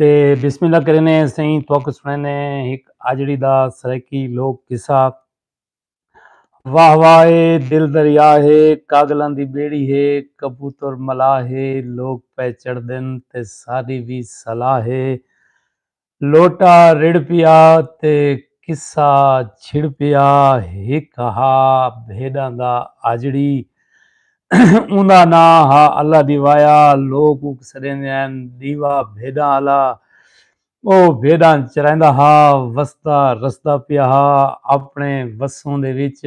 تے بسم اللہ کرینے سائیں توک سنینے ایک آجڑی دا سرکی لوک قصہ واہ واہ اے دل دریا ہے کاگلاں دی بیڑی ہے کبوتر ملا ہے لوک پے چڑھ دن تے ساری وی صلاح ہے لوٹا رڑ پیا تے قصہ چھڑ پیا ایک ہا بھیڑاں دا آجڑی اوندا ناں ہا اللہ دی وایا، لوک اوک سڈیندے ہن ڈیوا بھیڈاں آلا۔ او بھیڈاں چرائیندا ہا، وسدا رسدا پیا ہا، اپنے وسوں دے وچ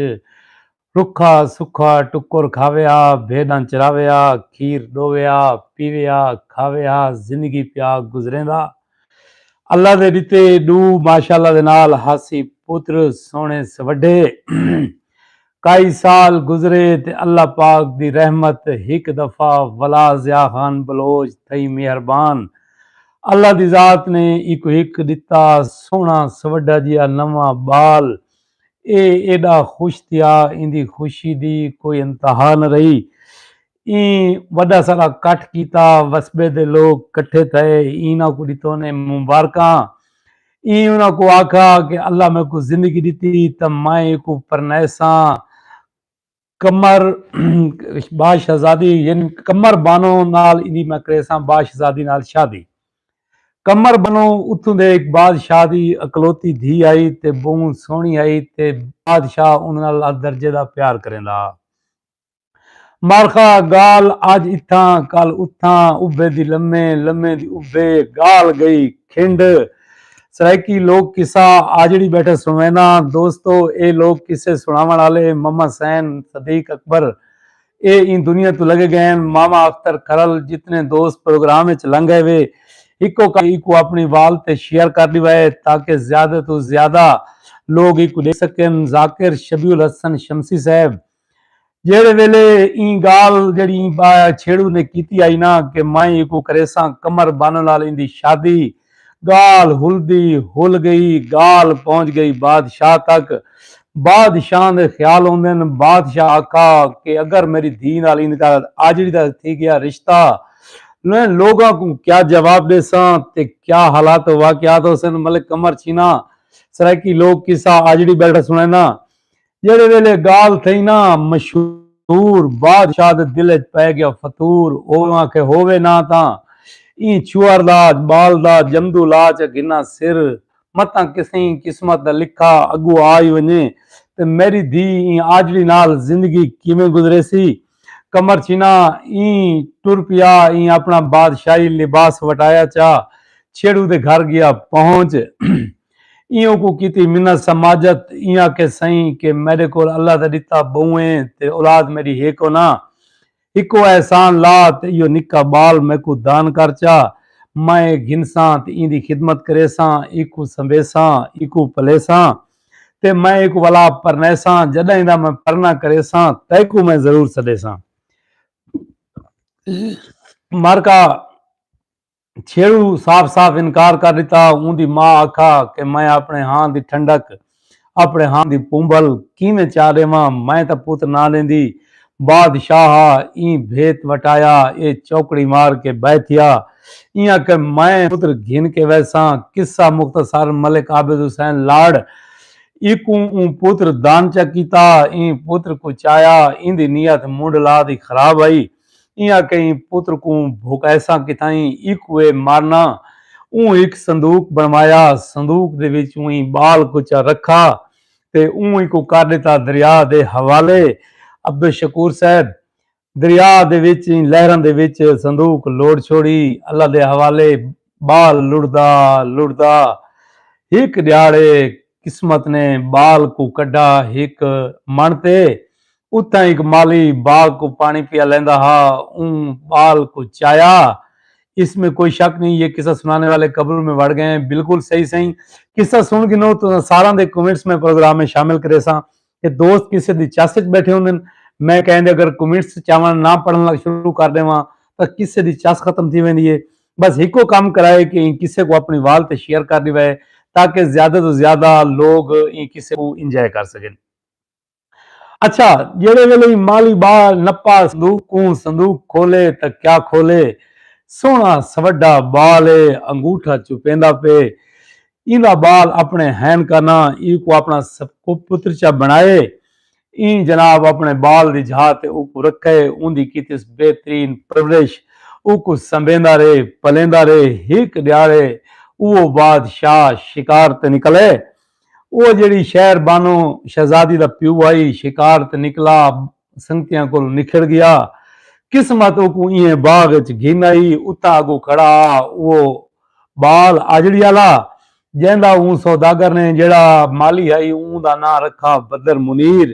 رکھا سکھا ٹکر کھاوے ہا، بھیڈاں چراوے ہا، کھیر ڈووے ہا، پیوے ہا، کھاوے ہا، زندگی پیا گزریندا۔ اللہ دے ڈتے ڈو ماشاءاللہ دے نال ہاسی پتر سوہنے سوڈھے۔ کئی سال گزرے تے اللہ پاک دی رحمت ہک دفعہ ولا ضیاء خان بلوچ تھئی مہربان اللہ دی ذات نے ایکوں ہک ڈتا سوہنا سوڈا جیا نواں بال اے ایڈا خوش تھیا ایندی خوشی دی کوئی انتہا نہ رہی ایں وݙا سارا کٹھ کیتا، وسبے دے لوک کٹھے تھئے، ایناں کوں ݙتوں نے مبارکاں۔ ایں انہاں کوں آکھا کہ اللہ میکوں زندگی ݙتی تاں میں ایکوں پرنائیساں۔ قمر با شہزادی یعنی قمر بانو نال ایندی میں کریساں با شہزادی نال شادی۔ قمر بانو اتھوں دے ہک بادشاہ دی اکلوتی دھی ہئی تے ٻہوں سوہݨی ہئی تے بادشاہ اوندے نال ادرجے دا پیار کریندا ہا۔ مارخا گال اج اتھاں کل اتھاں ابھے دی لمے لمے دی ابھے گال گئی کھنڈ سرائیکی لوک قصہ آجڑی بیٹھے سوینا دوستو اے لوک قصے سناون آلے مما سین صدیق اکبر اے این دنیا تو لگے گئین ماما اختر کھرل جتنے دوست پروگرام اچ لنگ اے وے ایکو کا ایکو اپنی وال تے شیئر کر ڈیوا اے تاکہ زیادہ تو زیادہ لوگ ایکو دیکھ سکن ذاکر شبیہ الحسن شمسی صاحب جیڑھے ویلے ایں گالھ جیڑھی ایں با چھیڑو نے کیتی آئی نا کہ میں ایکوں کریساں کمر بانن نال ایندی شادی گالھ ہلدی ہل گئی گالھ پہنچ گئی بادشاہ تک بادشاہ دے خیال ہوندن بادشاہ آکھا کہ اگر میری دھی نال ایندے دا آجڑی دا تھی گیا رشتہ میں لوگاں کوں کیا جواب ڈیساں تے کیا حالات و واقعات ہوسن ملک کمر چھینا سرائیکی لوک قصہ آجڑی بیٹھا سنائناں جیڑھے ویلے گال تھئی نا مشہور بادشاہ دے دل اچ پئے گیا فتور اوواں کہ ہووے نا تاں ایں چھوہر دا بال دا جمدو لا چا گھناں سر متاں کسیں قسمت دا لکھا اگو آئی ونجے تے میڈی دھی ایں آجڑی نال زندگی کیویں گزریسی قمر چھینا ایں ٹر پیا ایں اپنا بادشاہی لباس وٹایا چا چھیڑو دے گھر گیا پہنچ ایہوں کوں کیتی منت سماجت ایں آکھے سئیں کہ میڈے کول اللہ دا ڈتا بہوں اے تے اولاد میڈی ہک ہونا ہکو احسان لا تے ایہو نکا بال میکوں دان کر چا میں اے گھنساں تے ایندی خدمت کریساں ایکوں سنبھیساں ایکوں پلیساں تے میں ایکوں ولا پرنیساں جڈاں ایندا میں پرنا کریساں تیکوں میں ضرور سڈیساں مارکا چھیڑو صاف صاف انکار کر ݙتا۔ اوندی ماء آکھا کہ میں اپݨے ہاں دی ٹھنڈک اپݨے ہاں دی پونبھل کیویں چا ݙیواں، میں تاں پت نہ ݙیندی۔ بادشاہ ایں بھیت وٹایا اے چوکڑی مار کے بہہ تھیا۔ ایں آکھے میں پتر گھن کے ویساں۔ قصہ مختصر ملک عابد حسین لاڑ ایکوں اوں پتر دانچہ کیتا۔ ایں پتر کوں چایا۔ ایندی نیت منڈھلا دی خراب ہئی۔ ایں آکھیں پتر کوں بھکائیساں کتھائیں ایکوں اے مارنا اوں ہک صندوق بنوایا صندوق دے وچ ایں بال کچا رکھا تے اوں ایکوں کر ڈتا دریا دے حوالے عبدالشکور صاحب دریا دے وچ ایں لہراں دے وچ صندوق لوڑ چھوڑی اللہ دے حوالے بال لڑدا لڑدا ہک ڈیہاڑے قسمت نے بال کوں کڈھا ہک مݨ تے اتھاں ہک مالی باغ کو پانی پیا لیندا ہا اوں بال کو چایا اس میں کوئی شک نہیں یہ قصہ سنانے والے قبر میں وڑ گئے ہیں بالکل صحیح صحیح قصہ سن گنو تو ساراں دے کمنٹس میں پروگرام میں شامل کرے ساں کہ دوست کسے دی چس وچ بیٹھے ہوندن میں کہیں دے اگر کمنٹس چاون نہ پڑھن لگ شروع کر دیواں تاں کسے دی چس ختم تھی ویندی ہے بس ہکو کم کرائے کہ این کسے کو اپنی وال تے شیئر کر دیوے تاکہ زیادہ تو زیادہ لوگ این کسے کو انجوائے کر سکن اچھا جیڑھے ویلے ای مالی با نپا صندوق کوں صندوق کھولے تاں کیا کھولے سوہنڑا سوڈھا بال اے انگوٹھا چپیندا پے ایندا بال اپنڑے ہین کا نہ ای کو اپنڑا پترچہ بنڑائے ایں جناب اپنڑے بال دی جھا تے او کو رکھے اوندی کیتیس بہترین پرورش او کو سنبھیندا رے پلیندا رے ہک ڈیاڑے اوہو باد شاہ شکار تے نکلے اوہ جیڑھی شہر بانو شہزادی دا پیو آئی شکار تے نکلا سنگتیاں کولوں نکھڑ گیا۔ قسمت اوکوں ایہے باغ اچ گھن آئی اتھاں اگو کھڑا ہا اوہ بال آجڑی آلا جیندا اوں سوداگر نے جیڑھا مالی ہئی اوں دا ناں رکھا بدر منیر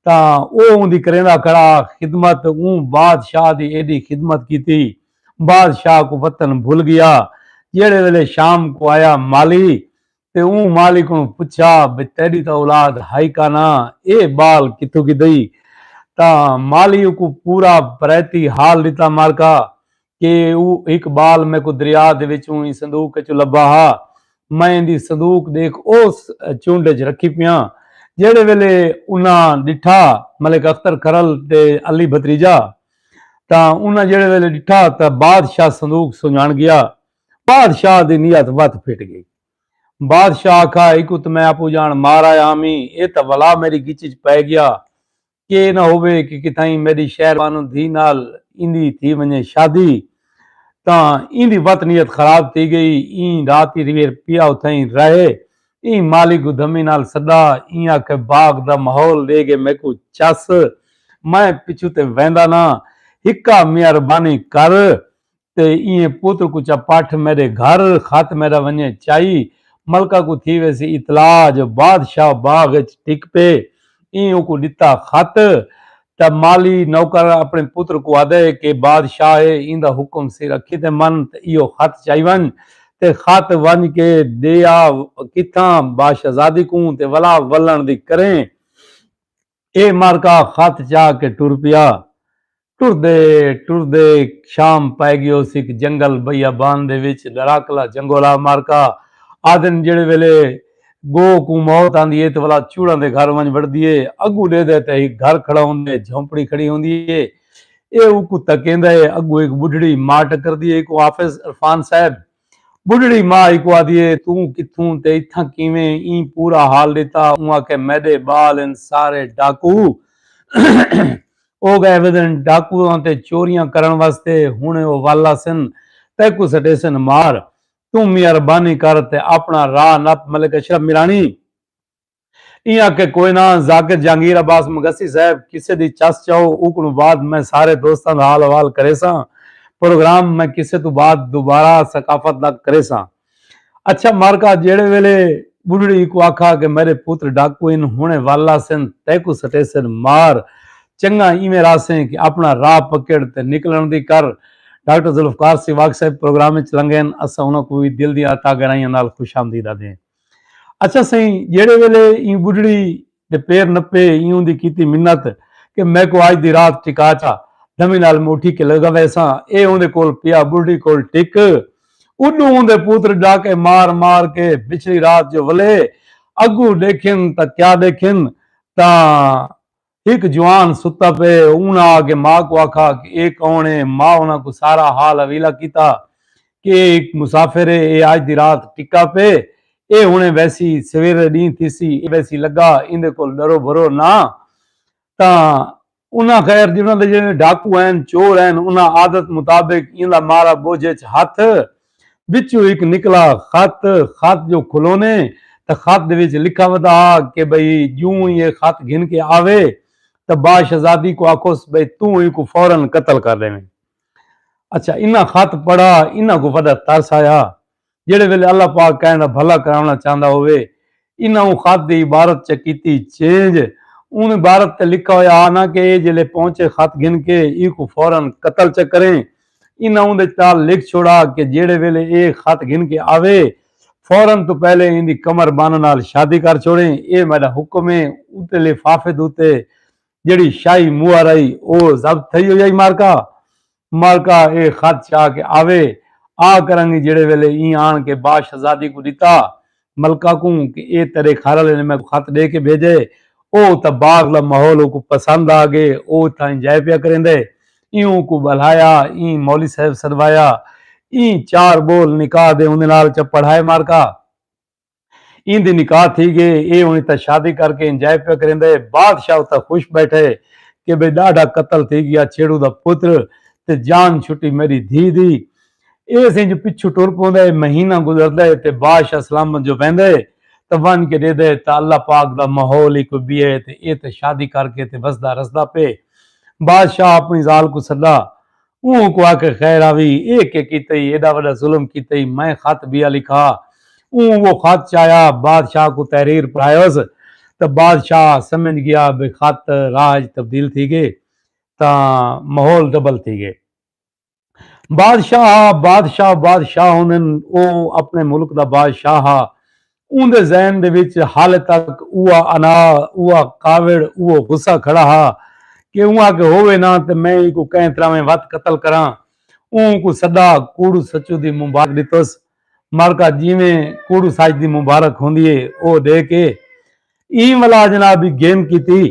تاں اوہ اوندی کریندا کھڑا ہا خدمت اوں بادشاہ دی ایڈی خدمت کیتی بادشاہ کوں وطن بھل گیا جیڑھے ویلے شام کوں آیا مالی تے اوں مالک کوں پچھیا بھئی تیڈی تاں اولاد ہئی کانا اے بال کتھوں گھدئی تاں مالی اوکوں پورا پریتی حال ڈتا مارکا کہ او ہک بال میکوں دریا دے وچوں ایں صندوق اچوں لبھا ہا میں ایندی صندوق ڈیکھ اوس چنڈ اچ رکھی پیاں جیڈے ویلے انہاں ڈٹھا ملک اختر کھرل تے علی بھتریجہ تاں انہاں جیڈے ویلے ڈٹھا تاں بادشاہ صندوق سنجان گیا بادشاہ دی نیت وت پھٹ گئی۔ بادشاہ آکھا ایکوں تاں میں اپو جان مار آیا ہامیں اے تاں ولا میڈی گچ اچ پئے گیا۔ کے اے نہ ہووے کہ کتھائیں میڈی شہر بانو دھی نال ایندی تھی ونجے شادی تاں ایندی وت نیت خراب تھی گئی۔ ایں رات ای ریویر پیا اتھائیں رہے۔ ایں مالی کوں دھمی نال سڈا۔ ایں آکھے باغ دا ماحول ڈے گے میکوں چس۔ میں پچھوں تے ویندا نہ۔ ہکا میہربانی کر۔ تے ایہے پتر کوں چا پٹھ میڈے گھر خط میڈا ونجے چائی ملکہ کوں تھی ویسی اطلاع جو بادشاہ باغ اچ ڈھک پے ایں اوکوں ڈتا خط تاں مالی نوکر اپنے پتر کوں آدے کہ بادشاہ اے ایندا حکم سر اکھی تے من تے ایہو خط چائی ونج تے خط ونج کے دے آ کتھاں باشہزادی کوں تے ولا ولن دی کریں اے مارکا خط چا کے ٹر پیا۔ ٹردے ٹردے شام پئے گیو سک جنگل بئیا بان دے وچ ڈراکلا جنگولا مارکا آدھن جیڑھے ویلے گو کوں موت آندی اے تے ولا چوڑاں دے گھر ونج وڑدی اے اگوں ڈیدے تے ہک گھر کھڑا ہوندے اے جھونپڑی کھڑی ہوندی اے اے اوکوں تکیندا اے اگوں ہک بڈھڑی ماں ٹکردی اے ایکوں آفس عرفان صاحب ٻڈھڑی ماء ایکوں آدھی اے توں کتھوں تے اتھاں کیویں ایں پورا حال ݙتا اوں آکھے میݙے ٻال ہن سارے ڈاکو او ڳئے ودن ڈاکواں تے چوریاں کرݨ واسطے ہݨ او ول آسن تیکوں سٹیسن مار توں مہربانی کر تے آپݨا راہ نپ ملک اشرف میرانی ایں آکھے کوئے نہ ذاکر جہانگیر عباس مگسی صاحب کسے دی چس چاؤ اوکوں بعد میں سارے دوستاں دا حال احوال کریساں پروگرام میں کسے توں بعد دوبارہ ثقافت دا کریساں اچھا مارکا جیڑھے ویلے بڈھڑی اکوں آکھا کہ میرے پتر ڈاکو ہن ہنڑے ول آسن تیکوں سٹیسن مار چنگا ایویں رہسیں کہ اپنا راہ پکڑ تے نکلن دی کر ڈاکٹر ذوالفقار سیواگ صاحب پروگرام وچ لنگین اساں انہاں کوں وی دل دیاں تہہ گہرائیاں نال خوش آمدید آدھیں۔ اچھا سئیں جیڑھے ویلے ایں ٻڈھڑی دے پیر نپے ایں اوندی کیتی منت کہ میکوں اج دی رات ٹکا چا دمی نال میں اٹھی کے لگا ویساں اے اوندے کول پیا ٻڈھڑی کول ٹک اڈوں اوندے پوتر ڈاکے مار مار کے پچھلی رات جو ولے اگوں ڈیکھن تاں کیا ڈیکھن تاں ہک جوان ستا پئے ہے۔ انہاں آ کے ماء کوں آکھا کہ اے کون ہے؟ ماء انہاں کوں سارا حال حویلہ کیتا کہ اے ہک مسافر ہے، اے آج دی رات ٹکا پئے، اے ہنڑے ویسی، سویرے ڈینہہ تھیسی، اے ویسی لگا ایندے کول ڈرو بھرو نہ تاں انہاں خیر جنہاں دے جیڑھے ڈاکو ہن، چور ہن، انہاں عادت مطابق ایندا مارا بوجھ اچ ہتھ۔ وچوں ہک نکلا خط، خط جو کھلونے تاں خط دے وچ لکھا ودا ہا کہ بھئی جوں ای اے خط گھن کے آوے تاں با شہزادی کوں آکھوس بھئی توں ای کوں فورا قتل کر ڈیویں۔ اچھا انہاں خط پڑھا انہاں کوں وڈا ترس آیا۔ جیڑھے ویلے اللہ پاک کہیں دا بھلا کراونا چاہندا ہووے انہاں اوں خط دی عبارت چ کیتی چینج اوں عبارت تے لکھا ہویا آ نہ کہ اے جیلے پہنچے خط گھن کے اینکوں فورا قتل چا کریں انہاں اوندے نال لکھ چھوڑا کہ جیڑھے ویلے اے خط گھن کے آوے فورا توں پہلے ایندی قمر بانو نال شادی کر چھوڑیں اے میڈا حکم اے اتے لفافے دے اتے جیڑھی شاہی موہر ہئی او ضبط تھئی ہوئی ہئی مارکا مارکا اے خط چا کے آوے آ کرنگی جیڑھے ویلے ایں آن کے با شہزادی کوں ڈتا ملکہ کوں کہ اے تیرے گھر آلے نے میکوں خط ڈے کے بھیجے او اتھا باغ دا ماحول اوکوں پسند آ گے او اتھا انجائے پیا کریندے ایں اوکوں بلہایا ایں مولی صاحب سدوایا ایں چار بول نکاح دے اوندے نال چا پڑھائے مارکا۔ ایں دی نکاح تھی گئے اے ہن اتھاں شادی کر کے انجوائے پیا کریندا ہے بادشاہ اتھاں خوش بیٹھا ہے کہ بھئی ݙاڈھا قتل تھی گیا چھیڑو دا پتر تے جان چھٹی میݙی دھی دی ایس انج پچھوں ٹر پوندا ہے مہینہ گزردا ہے تے بادشاہ سلامت جو ویندا ہے تے ونج کے ݙیہدا ہے تے اللہ پاک دا ماحول ہی کوئی ٻیا ہے تے اے تے شادی کر کے تے وسدا رسدا پئے بادشاہ اپݨی ذال کوں سݙا اوں کوں آکھ خیر آوی اے کے کیتئی ایڈا وڈا ظلم کیتئی میں خط بیا لکھا اوں وہ خط چایا بادشاہ کوں تحریر پڑھایوس تاں بادشاہ سمجھ گیا بھئی خط راج تبدیل تھی گئے تاں ماحول ڈبل تھی گئے بادشاہ ہا بادشاہ بادشاہ ہونن او اپنے ملک دا بادشاہ ہا اوندے ذہن دے وچ حالے تک اوہا انا، اوہا کاوڑ، اوہو غصہ کھڑا ہا کہ اوں آکھے ہووے نہ تے میں اینکوں کہیں طراویں وت قتل کراں۔ اوں کوں سدا کوڑو سچو دی مبارک ڈتس۔ مرکہ جیویں کوڑو سچ دی مبارک ہوندی اے او ڈے کے ایں ولا جناب دی گھن کیتی۔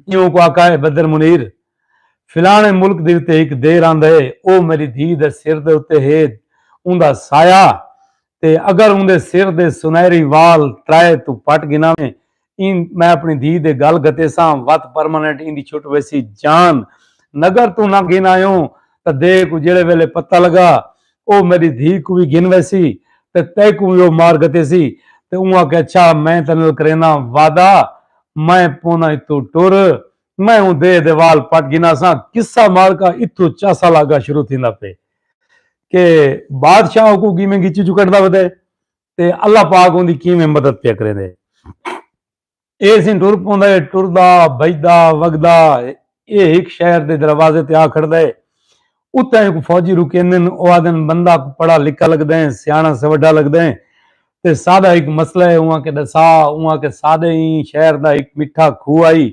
ایوں کوں آکھا اے بدر منیر فلانے ملک دے اتے ہک دیر آندا اے او میڈی دھی دے سر دے اتے ہید اوندا سایہ تے اگر اوندے سر دے سنہری وال ترائے توں پٹ گھناویں ایں میں اپݨی دھی دے گل گھتیساں وت پرماننٹ ایندی چھٹ ویسی جان نگر توں نہ گھن آیوں تاں دے کوں جیڑھے ویلے پتہ لگا او میݙی دھی کوں وی گھن ویسی تے تیکوں وی او مار گھتیسی تے اوں آکھیا اچھا میں تیݙے نال کرینداں وعدہ میں پوناں اتوں ٹر میں اوں دیہہ دے وال پٹ گھناساں۔ قصہ معرکہ اتھوں چا سال اگاں شروع تھیندا پئے کہ بادشاہ اوکوں کیویں گھچی چوں کڈھدا ودے تے اللہ پاک اوندی کیویں مدد پیا کریندے۔ ایہ سین ٹر پوندا ہے، ٹردا، بھڄدا، وگدا ایہ ہک شہر دے دروازے تے آ کھڑدا ہے۔ اتھاں ہک فوجی رکیندن او آہدن بندہ کوں پڑھا لکھا لگدا ہے سیاݨا سوڈھا لگدا ہے تے ساݙا ہک مسئلہ ہے اوں آکھے ݙسا اوں آکھے ساݙے ایں شہر دا ہک مٹھا کھوہ ہئی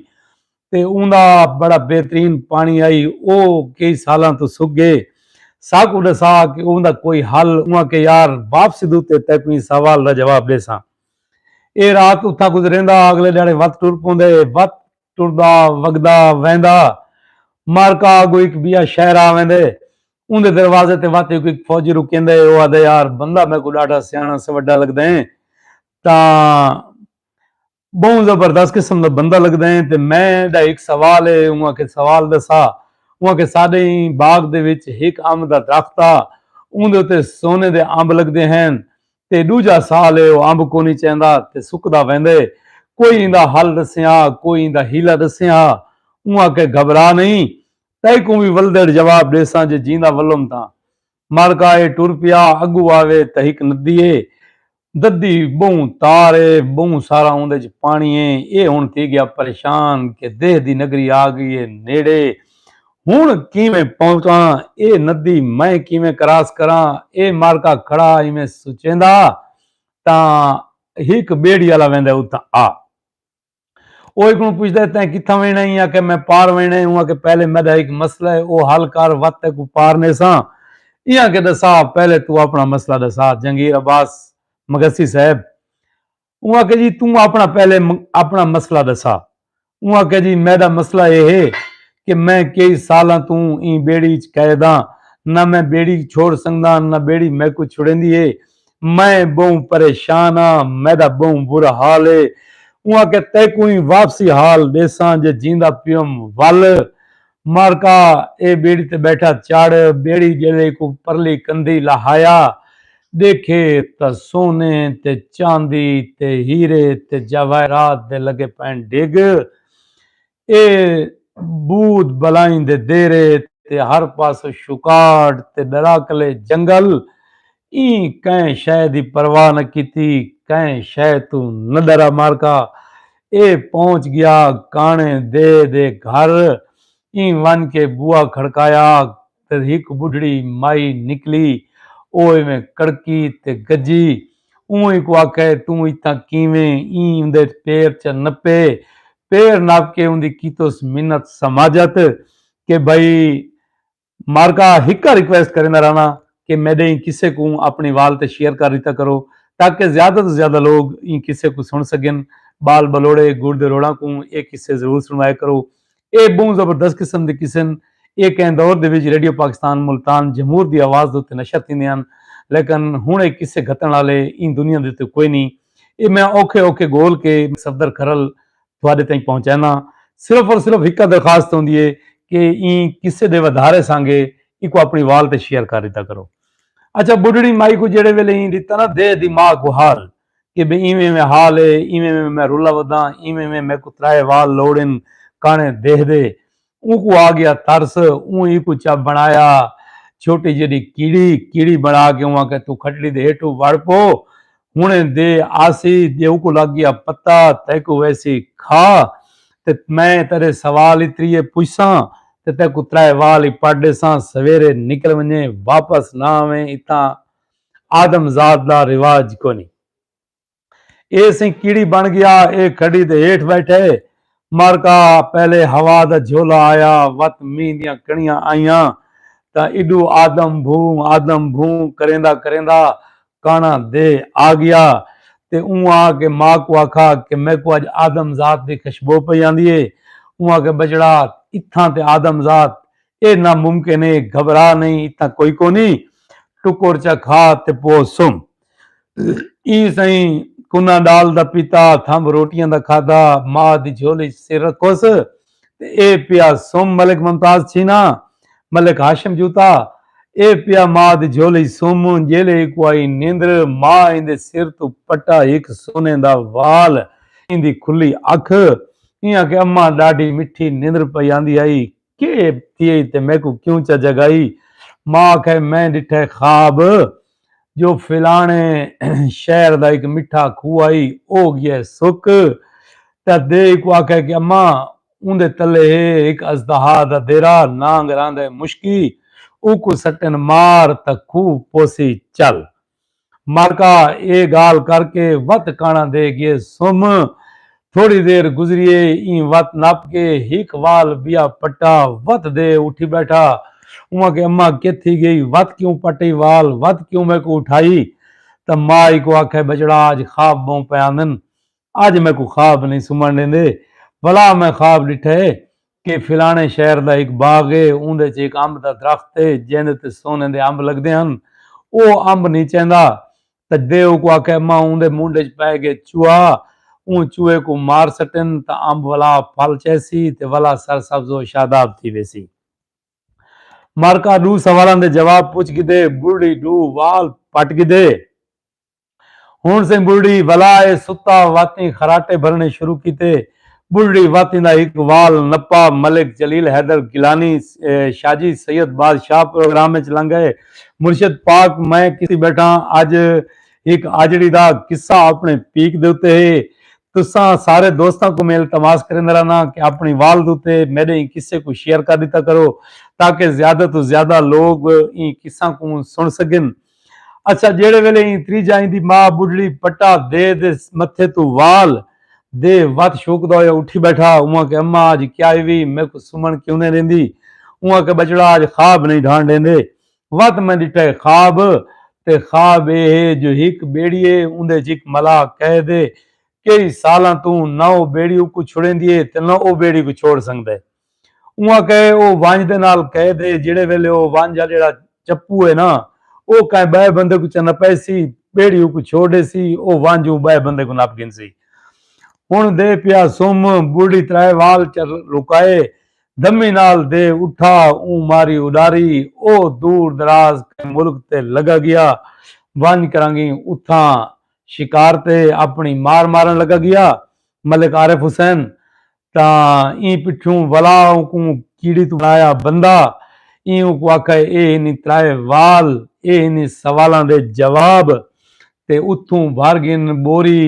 تے اوندا بڑا بہترین پاݨی ہئی او کئی سالاں توں سک ڳئے ساکوں ݙسا کہ اوندا کوئی حل اوں آکھے یار واپسی دے اتے تیکوں ایں سوال دا جواب ݙیساں اے رات اتھاں گزریندا اگلے ݙیہاڑے وت ٹر پوندے وت ٹردا وگدا ویندا معرکہ اگو اک بیا شہر آ ویندے اوندے دروازے تے وت اک فوجی رکیندے او آدے یار بندہ میکوں ڈاڈھا سیاݨا سوڈا لگدے تاں بہوں زبردست قسم دا بندہ لگدے تے میں دا اک سوال اے اوں آکھے سوال دسا اوں آکھے ساڈے ایں باغ دے وچ ہک امب دا درخت آ اوندے اتے سونے دے امب لگدے ہن تے ݙوجھا سال ہے او امب کونی چیندا تے سکدا ویندے کوئی ایندا حل ݙسیں ہا کوئی ایندا حیلہ ݙسیں ہا اوں آکھے گھبرا نئیں تیکوں وی ولدڑ جواب ݙیساں جے جیندا ولم تاں مر کا اے ٹر پیا اڳو آوے تے ہک ندی اے ددی ٻہوں تار اے ٻہوں سارا اوندے ءچ پاݨی اے اے ہݨ تھی ڳیا پریشان کہ دیہہ دی نگری آ ڳئی اے نیڑے ہن کیویں پہنچاں اے ندی میں کیویں کراس کراں اے مارکا کھڑا ایویں سچیندا تاں ہک بیڑی آلا ویندا اتھاں آ او ہک کوں پچھدا تیں کتھاں وینا ایں آکھے میں پار وینا اوں آکھے پہلے میڈا ہک مسئلہ ہے او حل کر وت تیں کوں پار نیساں ایں آکھے دسا پہلے تو اپنا مسئلہ دسا جنگیر عباس مگسی صاحب اوں آکھیا جی توں اپݨا پہلے اپݨا مسئلہ ݙسا۔ اوں آکھیا جی میݙا مسئلہ ایہ ہے کہ میں کئی سالاں توں ایں ٻیڑی اچ قید ہاں، نہ میں ٻیڑی چھوڑ سڳداں نہ ٻیڑی میکوں چھڑیندی ہے، میں ٻہوں پریشان ہاں، میݙا ٻہوں برا حال ہے۔ اوں آکھیا تیکوں ایں واپسی حال ݙیساں جے جیندا پیوم ول مارکا اے بیڑی تے بیٹھا چڑھ بیڑی جیلے کوں پرلی کندھی لہایا ڈیکھے تاں سونے تے چاندی تے ہیرے تے جواہرات دے لگے پئن ڈھگ اے بھوت بلائیں دے دیرے تے ہر پاسوں شکار تے ڈراکلے جنگل ایں کئیں شئے دی پرواہ نہ کیتی کئیں شئے توں نہ ڈرا مارکا اے پہنچ گیا کانڑیں دے دے گھر ایں ونج کے بوا کھڑکایا تے ہک بڈھڑی مائی نکلی او ایویں کڑکی تے گجی اونہی کوں آکھے توں اتھاں کیویں ایں اوندے پیر چ نپے پیر نپ کے اوندی کیتوس منت سماجت کہ بھئی مارکا ہکا ریکویسٹ کریندا رہنا کہ میڈے ایں قصے کوں اپنی وال تے شیئر کر ریتا کرو تاکہ زیادہ توں زیادہ لوگ ایں قصے کوں سن سگن بال بلوڑے گڑ دے روڑاں کوں اے قصے ضرور سنوائے کرو اے بہوں زبردست قسم دے قصن اے کہیں دور دے وچ ریڈیو پاکستان ملتان جمہور دی آواز دے اتے نشر تھیندے ہن لیکن ہن اے قصے گھتن آلے ایں دنیا دے اتے کوئی نی اے میں اوکھے اوکھے گول کے صفدر کھرل تہاڈے تئیں پہنچیندا ہاں صرف اور صرف ہکا درخواست ہوندی ہے کہ ایں قصے دے ودھارے سانگے ایکو اپنی وال تے شیئر کر ڈتا کرو اچھا بڈھڑی مائی کو جیڑے ویلے ایں ڈتا نا دے دی ماں کو حال کہ بے ایویں ایویں حال ہے ایویں ایویں میں رولا وداں ایویں ایویں میکو ترائے وال لوڑن کانے دیہہ دے اونکوں آ گیا ترس، اوں اینکوں چا بنڑایا چھوٹی جیڈی کیڑی، کیڑی بنڑا کے اوں آکھیا توں کھٹڑی دے ہیٹھوں وڑ پو ہنڑے دے آسی جے اونکوں لگ گیا پتہ تیکوں ویسی کھا تے میں تیڈے سوال ای تریے پچھساں تے تیکوں ترائے وال ای پٹ ڈیساں سویرے نکل ونجیں واپس نہ آویں اتھاں آدم زاد دا رواج کونی۔ اے سئیں کیڑی بݨ ڳیا اے گھݙی دے ہیٹھ ٻیٹھے مارکا پہلے ہوا دا جھولا آیا وت مینہ دیاں کݨیاں آئیاں تاں ایݙو آدم بھوں آدم بھوں کریندا کریندا کاݨا دے آڳیا تے اوں آ کے ماء کوں آکھا کہ میکوں اڄ آدم ذات دی خشبو پئی آندی اے اوں آکھے ٻچڑا اتھاں تے آدم ذات اے ناممکن اے گھبرا نئیں اتھاں کوئی کونی ٹکر چا کھا تے پو سم۔ ایں سئیں کناں ڈال دا پیتا تھمب روٹیاں دا کھادا ماء دی جھولی چ سر رکھوس تے اے پیا سم ملک ممتاز چھینا ملک ہاشم جوتا اے پیا ماء دی جھولی سم جیلے اکو آئی نیندر ماء ایندے سر توں پٹا ہک سونے دا وال ایندی کھلی اکھ ایں آکھے اماں ڈاڈھی مٹھی نیندر پئی آندی ہئی کے تھیے تے میکوں کیوں چا جگائی ماں آکھے میں ڈٹھے خواب جو فلانے شہر دا اک مٹھا کھو آئی او گیے سک تے دے کو آکھے کہ اماں اوندے تلے ہے اک ازدہا دا دیرا نانگ راندے مشکی اوکوں سٹن مار تے کھو پوسی چل۔ مالکا اے گالھ کر کے وت کانڑاں دے گئے سم۔ تھوڑی دیر گزریے ایں وت نپ کے ہک وال بیا پٹا وت دے اٹھی بیٹھا۔ اواں کے اماں کت تھی گئی وت کیوں پٹی وال وت کیوں میکوں اٹھائی تاں ماء ایکوں آکھے بچڑا اج خواب بہوں پئے آندن اج میکوں خواب نئیں سمن ڈیندے بھلا میں خواب ڈٹھا ہے کہ فلانے شہر دا ہک باغ ہے اوندے چ ہک امب دا درخت ہے جیندے تے سونے دے امب لگدے ہن او امب نئیں چیندا تاں دے اوکوں آکھے اماں اوندے منڈھ اچ پئے گئے چوہا اوں چوہے کوں مار سٹن تاں امب ولا پھل چہسی تے ولا سر سبز و شاداب تھی ویسی۔ مرکا ڈو سوالاں دے جواب پچھ گھدے بڈھی ڈو وال پٹ گھدے۔ ہن سئیں ٻلھڑی ولا اے ستا واتیں خراٹے بھرݨے شروع کیتے۔ ٻلھڑی واتیں دا ہک وال نپا ملک جلیل حیدر گیلانی شاجی سید بادشاہ پروگرام اچ لنگھ اے۔ مرشد پاک میں کسے بیٹھاں اج ہک آجڑی دا قصہ اپݨے پیک دے اتے ہے۔ تساں سارے دوستاں کوں میں التماس کریندے رہناں کہ اپݨی وال دے اتے میݙے ایں قصے کوں شیئر کر ݙتا کرو تاکہ زیادہ توں زیادہ لوگ ایں قصہ کوں سݨ سڳن۔ اچھا جیڑھے ویلے ایں تریجھا ایں دی ماء بڈھڑی پٹا دے دے متھے توں وال دے وت شوکدا ہویا اٹھی بیٹھا اوں آکھے اماں اج کیا ہوی میکوں سمن کیوں نئیں ڈیندی اوں آکھے بچڑا اج خواب نئیں ڈھان ڈیندے وت میں ڈٹھا ہے خواب تے خواب اے ہے جو ہک بیڑی ہے اوندے اچ ہک ملاح کہہ دے کئی سالاں توں نہ او بیڑی اکوں چھڑیندی ہے تے نہ او بیڑی کوں چھوڑ سگدا ہے۔ اوہاں کہے او ونج دے نال قید ہے جیڑھے ویلے او ونج آ جیڑھا چپو ہے نا او کائیں بئے بندے کوں چا نپے سی بیڑی اوکوں چھوڑ ڈے سی او ونج اوں بئے بندے کوں نپ گھن سی ہن دے پیا سم بوڑھی ترائے وال چا لکائے دمی نال دے اٹھا اوں ماری اڈاری او دور دراز کائیں ملک تے لگا گیا ونج کرانگیں اتھاں شکار تے اپنی مار مارن لگا گیا ملک عارف حسین تاں ایں پٹھیوں ولا اونکوں کیڑی توں بݨایا بندہ ایں اونکوں آکھا ہے اے ہنی ترائے وال اے ہنی سوالاں دے جواب تے اتھوں بھر گھن ٻوری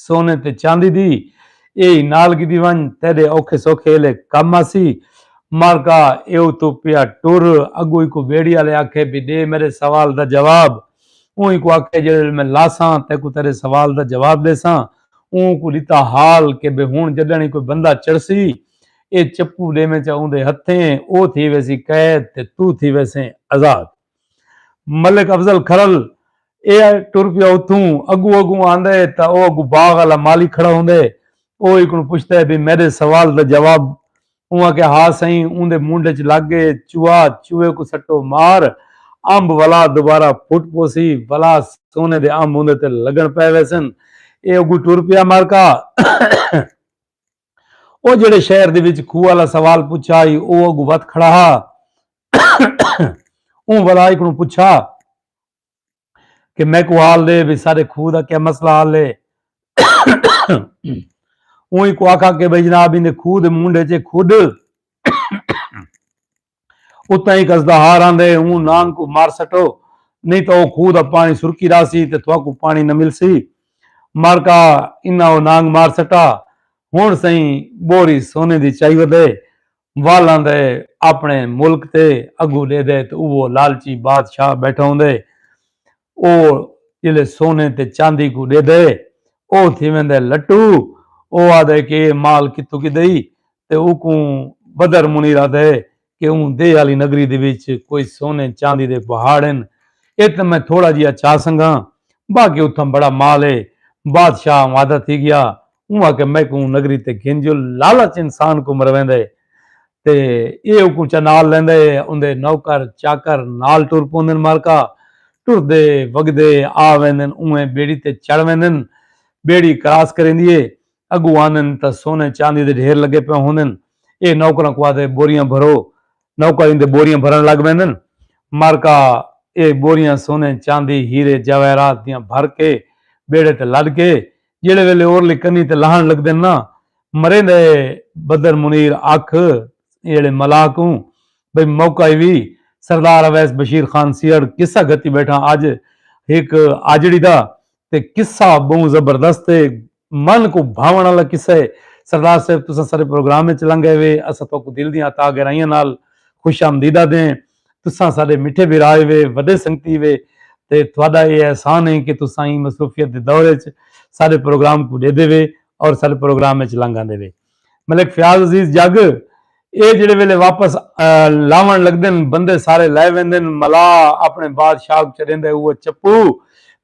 سونے تے چاندی دی اے ہی نال گھدی ونڄ تیݙے اوکھے سوکھے ایلے کم آسی مارکا اے اتھوں پیا ٹر اڳوں ایکوں ٻیڑی آلے آکھے بھئی ݙے میݙے سوال دا جواب اوں ایکوں آکھے جیڑھے ویلے میں لاساں تیکوں تیݙے سوال دا جواب ݙیساں اوں کوں ݙتا حال کہ بھئی ہݨ جݙݨ ای کوئی بندہ چڑھسی اے چپو ݙیویں چا اوندے ہتھیں او تھی ویسی قید تے توں تھی ویسیں آزاد۔ ملک افضل کھرل اے آ ٹر پیا اتھوں اڳوں اڳوں آندے تاں او اڳوں باغ آلا مالی کھڑا ہوندے او ایکوں پچھدے بھئی میݙے سوال دا جواب اوں آکھیا ہا سئیں اوندے منڈھ اچ لگ گئے چوہا چوہے کوں سٹو مار امب ولا دوبارہ پھٹ پوسی ولا سونے دے امب اوندے تے لگن پئے ویسن اے اگوں ٹر پیا مارکا او جیڑھے شہر دے وچ کھوہ والا سوال پچھا ہی او اگوں وت کھڑا ہا اوں ولا ایکڑوں پچھا کہ میکوں حال دے بھی سارے کھو دا کیا مسئلہ حال ہے اوہی کو آکھا کہ بھئی جناب ہی نے کھو دے مونڈے چے کھوڈ اتنا ہی کس دا ہار آن دے ہوں نان کو مار سٹو نہیں تو وہ کھو دا پانی سرکی را سی تے تھوا کو پانی نہ مل سی مار کا انہا وہ نانگ مار سٹا ہون سائیں بوری سونے دی چاہی ودے والاں دے اپݨے ملک تے اگو ݙیدے تے اوہ لالچی بادشاہ ٻیٹھا ہوندے او جلے سونے تے چاندی کوں ݙیدے او تھی ویندے لٹو او آہدے کہ ایہ مال کتھوں گھدئی تے اوکوں بدر منیر آہدے کہ اوں دے آلی نگری دے وچ کوئی سونے چاندی دے پہاڑ ہن اتنے میں تھوڑا جیہا چا سنگھاں باقی اتھاں بڑا مال ہے بادشاہ آمادہ تھی گیا اوں آکھیا میکوں نگری تے گھن جو لالچ انسان کوں مرویندے تے ایہ اوکوں چا نال لیندے اوندے نوکر چاکر نال ٹر پوندن مارکا ٹردے وگدے آ ویندن اونویں بیڑی تے چڑھ ویندن بیڑی کراس کریندی اے اگوں آندن تاں سونے چاندی دے ڈھیر لگے پئے ہوندن ایہ نوکراں کوں آدھے بوریاں بھرو نوکر ایندے بوریاں بھرن لگ ویندن مارکا ایہ بوریاں سونے چاندی ہیرے جواہرات دیاں بھر کے بیڑے تے لد کے جیڑھے ویلے اورلی کنی تے لہن لگدن نا مریندہ اے بدر منیر آکھ ایہڑے ملاح کوں بھئی موقع ایوی سردار اویس بشیر خان سیہڑ قصہ گھتی بیٹھاں اج ہک آجڑی دا تے قصہ بہوں زبردست اے من کوں بھاون آلا قصہ اے سردار صاحب تساں سارے پروگرام اچ لنگھ ایوے اساں تہاکوں دل دیاں عطا گہرائیاں نال خوش آمدیدہ دیں تساں ساڈے مٹھے بھرائے وے وڈے سنگتی وے تے تہاڈا اے احسان اے کہ تساں ایں مصروفیت دے دور اچ ساڈے پروگرام کوں ڈیدھے وے اور ساڈے پروگرام اچ لنگ آندے وے ملک فیاض عزیز جگ اے جیڑھے ویلے واپس لاون لگدن بندے سارے لے ویندن ملا اپنے بادشاہ کوں چڈیندا اے اوہ چپو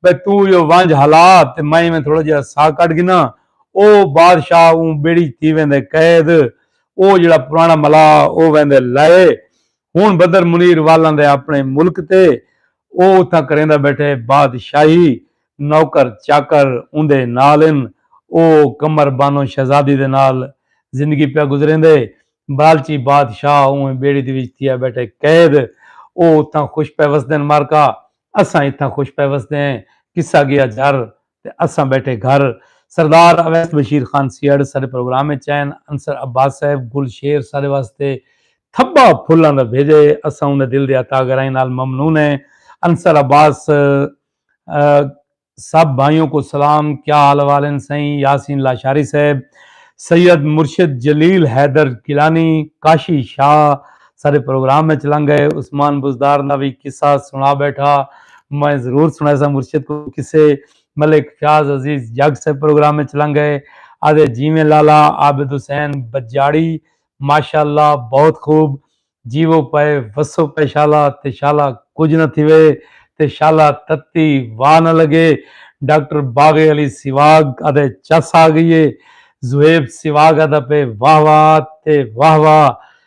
بھئی تو ایہو ونج ہلا تے میں ایویں تھوڑا جیہا سا کڈ گھناں او بادشاہ اوں بیڑی اچ تھی ویندے قید او جیڑھا پرانا ملا او ویندے لے ہن بدر منیر والاں دے اپݨے ملک تے او اتھاں کریندا ٻیٹھے بادشاہی نوکر چاکر اوندے نال ہن او قمر بانو شہزادی دے نال زندگی پیا گزریندے بلالچی بادشاہ اونہیں ٻیڑی دے وچ تھیا ٻیٹھے قید او اتھاں خوش پئے وسدن مارکا اساں اتھاں خوش پئے وسدے ہیں قصہ گیا جھر تے اساں بیٹھے گھر سردار اویس بشیر خان سیہڑ ساڈے پروگرام اچ آئن انصر عباس صاحب گل شیر ساڈے واسطے تھبا پھلاں دا بھیجا ہے اساں اوندے دل دی عطا گرائیں نال ممنون ہیں انصر عباس سب بھائیوں کو سلام کیا حال احوال ہیں سائیں یاسین لاشاری صاحب سید مرشد جلیل حیدر گیلانی کاشی شاہ سارے پروگرام اچ لنگ گئے عثمان بزدار دا وی قصہ سنا بیٹھا میں ضرور سنائیساں مرشد کو قصے ملک فیاض عزیز جگ سے پروگرام اچ لنگ گئے آدھے جیویں لالا عابد حسین بجاڑی ماشاءاللہ بہت خوب جیوو پئے وسو پئے شالا تے شالا کجھ نہ تھیوے تے شالا تتی واہ نہ لگے ڈاکٹر باغ علی سواگ آدھے چس آ گئی ہے زہیب سواگ آدھا پہ واہ واہ تے واہ واہ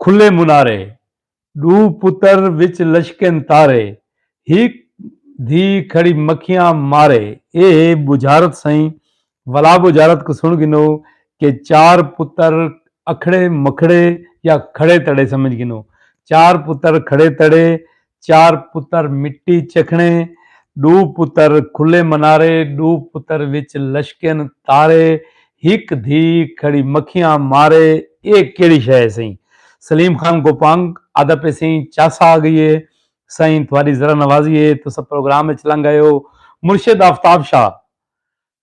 کھلے منارے ݙو پتر وچ لشکن تارے ہک دھی کھڑی مکھیاں مارے اے ہے بجھارت سئیں ولا بجھارت کوں سݨ گھنو کہ چار پتر اکھڑے مکھڑے یا کھڑے تڑے سمجھ گھنو چار پتر کھڑے تڑے چار پتر مٹی چکھنے ݙو پتر کھلے منارے ݙو پتر وچ لشکن تارے ہک دھی کھڑی مکھیاں مارے اے کیڑھی شے ہے سئیں سلیم خان گوپانگ آہدا پئے سئیں چاس آ گئی ہے سئیں تہاݙی ذرا نوازی ہے تساں پروگرام وچ لنگھ آئے ہو مرشد آفتاب شاہ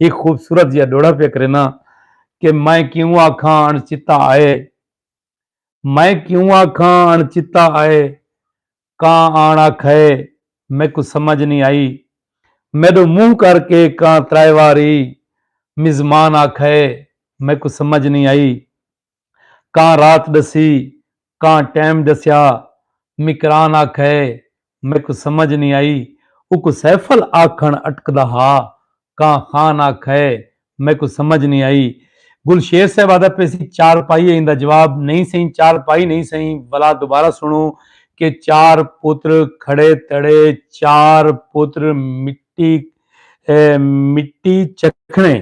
ہک خوبصورت جیہا ݙوہڑا پیا کرینداں کہ میں کیوں آکھاں اݨ چتا آئے میں کیوں آکھاں اݨ چتا آئے کاں آݨ آکھئے میکوں سمجھ نی آئی میݙو منہ کر کے کاں ترائے واری مزمان آکھئے میکوں سمجھ نی آئی۔ کاں رات ڈسی کاں ٹیم ڈسیا مکران آکھئے میکوں سمجھ نی آئی اوکوں سیفل آکھن اٹکدا ہا کاں خان آکھئے میکوں سمجھ نی آئی گل شیر صاحب آہدا پیسی چار پائی ہے ایندا جواب نئیں سئیں چار پائی نئیں سئیں ولا دوبارہ سنڑو کہ چار پتر کھڑے تڑے چار پتر مٹی مٹی چکھنے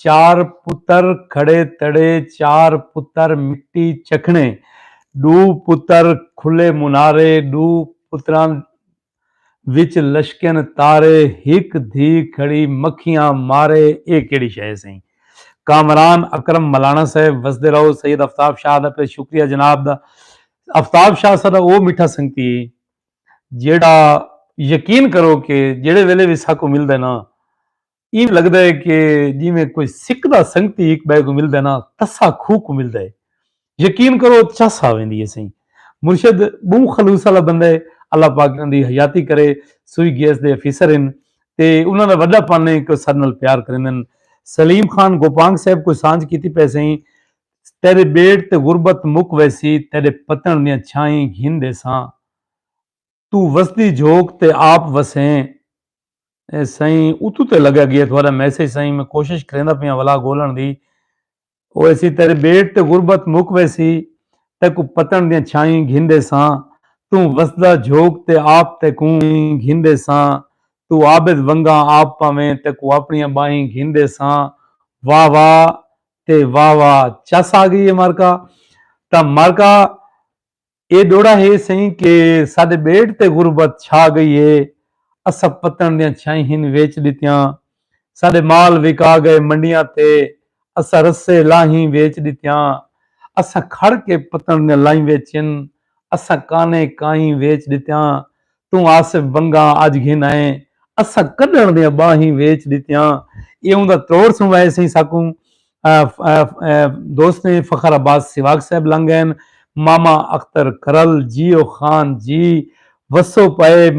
چار پتر کھڑے تڑے چار پتر مٹی چکھنے ݙو پتر کھلے منارے ݙو پتراں وچ لشکن تارے ہک دھی کھڑی مکھیاں مارے اے کیڑی شے ہے سئیں کامران اکرم ملانا صاحب وسدے رہو سید افتاب شاہ دا پہ شکریہ جناب دا افتاب شاہ ساڈا او میٹھا سنگتی ہے جیڑا یقین کرو کہ جیڑے ویلے وی ساکوں ملدے نا ایں لگدا ہے کہ جیویں کوئی سکدا سنگتی ہک بئے کو ملدا ہے نا تسا کھو کو ملدا ہے یقین کرو چس آ ویندی ہے سئیں مرشد بہوں خلوص والا بندہ ہے اللہ پاک انہاں دی حیاتی کرے سوئی گیس دے افیسر ہن تے انہاں دا وڈا پن ہے کہ ساڈے نال پیار کریندن سلیم خان گوپانگ صاحب کوئی سانجھ کیتی پئے سئیں تیرے بیڑ تے غربت مک ویسی تیرے پتن دیاں چھائیں گھن ڈیساں توں وسدی جھوک تے آپ وسیں سائیں اتو تے لگا گیا تھوڑا میسج سائیں میں کوشش کریندا پیاں ولا گولن دی او ایسی تیرے بیٹ تے غربت مک ویسی تے کو پتن دیاں چھائیں گھندے ساں توں وسدا جھوک تے آپ تے کوں گھندے ساں تو عابد ونگا آپ پاویں تے کو اپنی باہیں گھندے ساں واہ واہ تے واہ واہ چس آ گئی ہے مارکا تا مارکا اے ݙوڑا ہے سئیں کہ ساݙے ٻیڑ تے غربت چھا ڳئی ہے اسب پتݨ دیاں چھائیں ہن ویچ ݙتیاں ساݙے مال وکا ڳئے منڈیاں تے اساں رسے لاہیں ویچ ݙتیاں اساں کھڑ کے پتݨ دیاں لائیں ویچن اساں کانیں کائیں ویچ ݙتیاں توں آصف ونگاں اج گھن آئیں اساں کڈھن دیاں باہیں ویچ ڈتیاں ایہوں دا تروڑ سوں وائے سئیں ساکوں دوستیں فخر عباس سیواگ صاحب لنگ گئن ماما اختر کرل جیو خان جی وسو پئے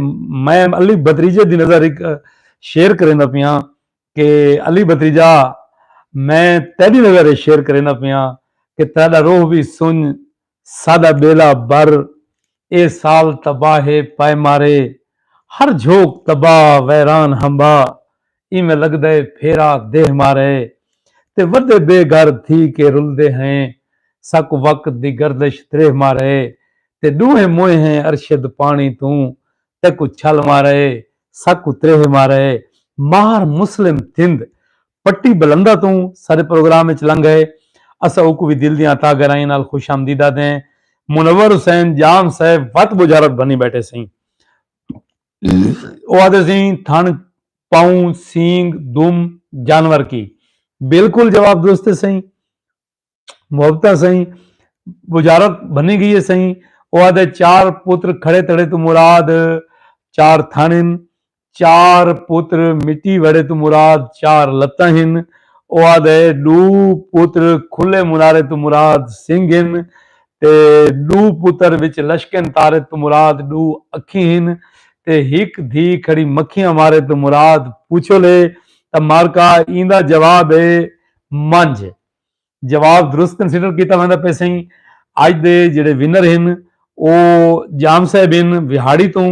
میں علی بھتریجے دی نظر ہک شعر کریندا پیاں کہ علی بھتریجا میں تیڈی نظر اچ شعر کریندا پیاں کہ تیڈا روح وی سنج ساݙا ٻیڑا بر اے سال تباہ اے پائے مارے ہر جھوک تباہ ویران ہمبا ایویں لڳدے پھیرا دیہہ مارے تے وݙے بے گھر تھی کے رلدے ہیں ساکوں وقت دی گردش دریہہ مارے تے ݙوہیں موئے ہیں ارشد پاݨی توں تیکوں چھل مارے ساکوں تریہہ مارے مار مسلم تھند پٹی بلندہ توں سارے پروگرام اچ لنگھ آئے۔ اساں اوکوں وی دل دیاں عطا گرائیں نال خوش آمدید آدھیں۔ منور حسین جام صاحب وت بجارت بھنی بیٹھے سئیں۔ او آدھے سئیں تھݨ پاؤں سینگ دم جانور کی۔ بالکل جواب درست ہے سئیں۔ محبتاں سئیں بجارت بھنی گئی ہے سئیں او آدھے چار پتر کھڑے تڑے تو مراد چار تھن ہن چار پتر مٹی وڑے تو مراد چار لتاں ہن او آدھے ڈو پتر کھلے منارے تو مراد سنگ ہن تے ڈو پتر وچ لشکن تارے تو مراد ڈو اکھی ہن تے ہک دھی کھڑی مکھیاں مارے تو مراد پوچھو لے تا مارکا ایندا جواب ہے منجھ جواب درست کنسیڈر کیتا ویندا پئے سئیں اج دے جڑے ونر ہن او جام صاحب ہن وہاڑی توں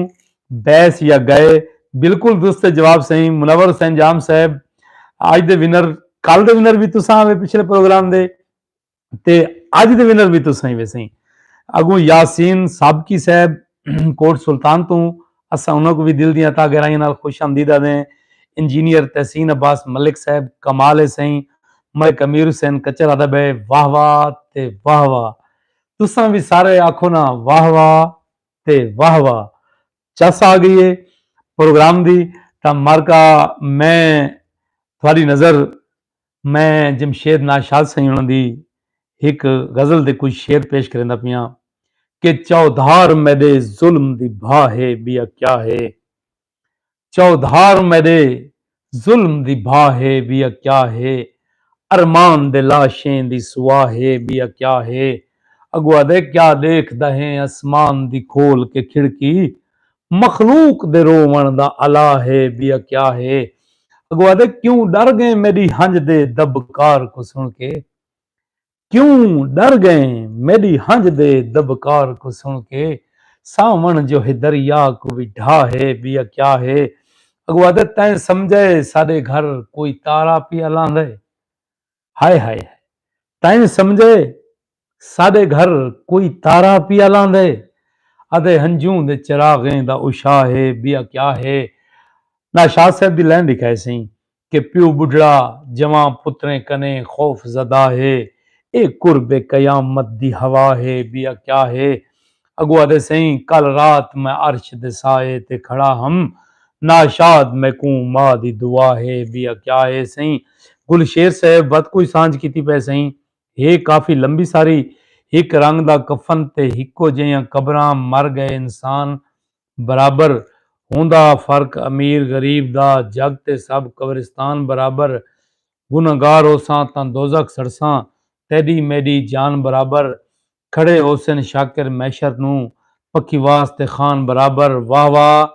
بیس یا گئے بالکل درست ہے جواب سئیں منور حسین جام صاحب اج دے ونر کل دے ونر بھی تساں آوے پچھلے پروگرام دے تے اج دے ونر بھی تساں ہی وے سئیں اگوں یاسین سابقی صاحب کوٹ سلطان توں اساں انہاں کوں وی دل دیاں تہہ گہرائیاں نال خوش آمدید آہدے ہیں۔ انجینئر تحسین عباس ملک صاحب کمال ہے سئیں۔ ملک امیر حسین کچر آہدا بئے واہ واہ تے واہ واہ۔ تساں وی سارے آکھو نا واہ واہ تے واہ واہ۔ چس آ گئی ہے پروگرام دی تاں مارکا میں تہاڈی نظر میں جمشید ناشاد سئیں ہوݨاں دی ہک غزل دے کجھ شعر پیش کریندا پیاں کہ چودھار میݙے ظلم دی بھا ہے ٻیا کیا ہے چودھار میݙے ظلم دی بھا ہے ٻیا کیا ہے ارمان دے لاشیں دی سوا ہے ٻیا کیا ہے اڳو آہدے کیا ݙیکھدا ہیں اسمان دی کھول کے کھڑکی مخلوق دے رووݨ دا الا ہے ٻیا کیا ہے اڳوں آہدے کیوں ݙر ڳئیں میݙی ہنڄ دے دٻکار کوں سݨ کے کیوں ݙر ڳئیں میݙی ہنڄ دے دٻکار کوں سݨ کے ساوݨ جو ہے دریا کوں وی ڈھا ہے ٻیا کیا ہے اڳوں آہدے تیں سمجھئے ساݙے گھر کوئی تارا پیا لہندا ہے۔ ہائے ہائے ہائے تائیں سمجھے ساڈے گھر کوئی تارا پیا لاندے ادے ہنجوں دے چراغیں دا اشا ہے بیا کیا ہے نا شاہ صاحب دی لین لکھائے سئیں کہ پیو بڈھڑا جوان پتریں کنے خوف زدہ ہے اے قرب قیامت دی ہوا ہے بیا کیا ہے اگو آدھے سئیں کل رات میں عرش دے سائے تے کھڑا ہم ناشاد میکوں ماء دی دعا ہے بیا کیا ہے سئیں گل شیر صاحب ود کوئی سانجھ کیتی پئے سئیں ہے کافی لمبی ساری ہک رنگ دا کفن تے ہکو جیہاں قبراں مر گئے انسان برابر ہوندا فرق امیر غریب دا جگ تے سب قبرستان برابر گنہگار ہوساں تاں دوزخ سڑساں تیڈی میڈی جان برابر کھڑے ہوسن شاکر میشر نوں پکیواس تے خان برابر واہ واہ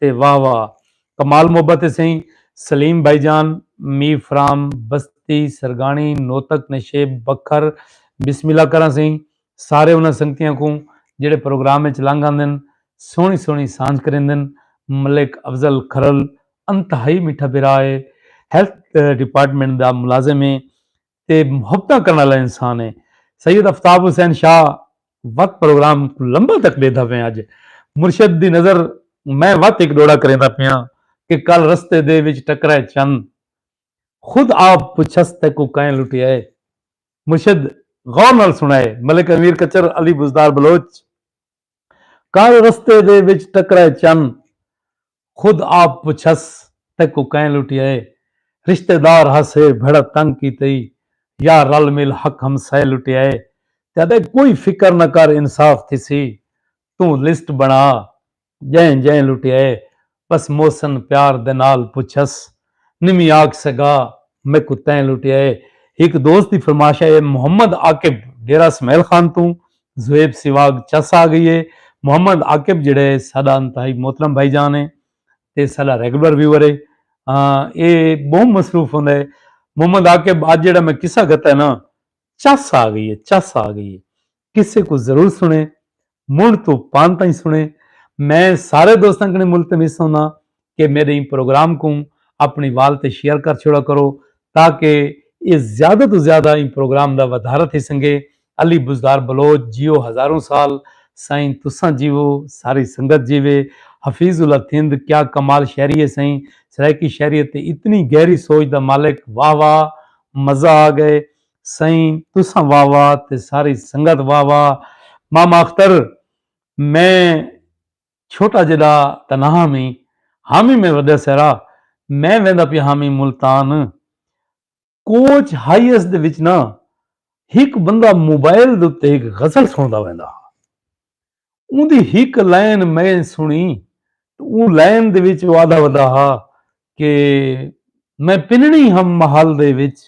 تے واہ واہ کمال محبت ہے سئیں سلیم بھائی جان میر فرام بستی سرگاݨی نوتک نشیب بکھر بسم اللہ کراں سئیں سارے انہاں سنگتیاں کوں جیڑھے پروگرام اچ لنگ آندن سوہݨی سوہݨی سانجھ کریندن ملک افضل کھرل انتہائی میٹھا بھرا ہے ہیلتھ ڈیپارٹمنٹ دا ملازم ہے تے محبتاں کرݨ آلا انسان ہے۔ سید افتاب حسین شاہ وت پروگرام کوں لمبا تک ݙیہدا پئیں اڄ مرشد دی نظر میں وت ہک ݙوڑا کریندا پیاں کہ کل رستے دے وچ ٹکرائے چن خود آپ پچھس تیکوں کئیں لٹیائے مرشد غور نال سݨائے ملک امیر کچر علی بزدار بلوچ کر رستے دے وچ ٹکرائے چن خود آپ پچھس تیکوں کئیں لٹیا اے رشتے دار ہسے بھڑا تنگ کیتے ای یا رل مل حق ہمسائے لٹیا اے تیڈے کوئی فکر نہ کر انصاف تھیسی توں لسٹ بنا جئیں جئیں لٹیا اے بس محسن پیار دے نال پچھس۔ نمی آکھ سگا میکوں تیں لٹیا اے۔ ہک دوست دی فرمائش اے محمد عاقب ڈیرہ سمیل خان توں زویب سیواگ چس آ گئی اے۔ محمد عاقب جیڑھا اے ساڈا انتہائی محترم بھائی جان اے تے ساڈا ریگولر ویور اے۔ اے بہوں مصروف ہوندا اے۔ محمد عاقب اج جیڑھا میں قصہ گھتا اے نا چس آ گئی اے چس آ گئی اے۔ قصے کوں ضرور سنڑیں، منڈھ توں پان تائیں سنڑیں۔ میں سارے دوستاں کنیں ملتمس ہونداں کہ میڈے ایں پروگرام کوں اپنڑی وال تے شیئر کر چھوڑا کرو تاکہ ایہ زیادہ توں زیادہ ایں پروگرام دا ودھارہ تھی سنگے۔ علی بزدار بلوچ جیو ہزاروں سال سائیں تساں جیوو ساری سنگت جیوے حفیظ اللہ تھند کیا کمال شعری ہے سائیں سرائیکی شعریت تے اتنی گہری سوچ دا مالک واہ واہ مزہ آ گئے سئیں تساں واہ واہ تے ساری سنگت واہ واہ ماما اختر میں چھوٹا جیڈا تاں نہ ہامی ہامی میں وڈے سیرا میں ویندا پیا ہامی ملتان کوچ ہائیس دے وچ نہ ہک بندہ موبائل دے اتے ہک غزل سنڑدا ویندا ہا اوندی ہک لائن میں سنڑی تو اوں لائن دے وچ او آدھا ودا ہا کہ میں پنڑی ہم محل دے وچ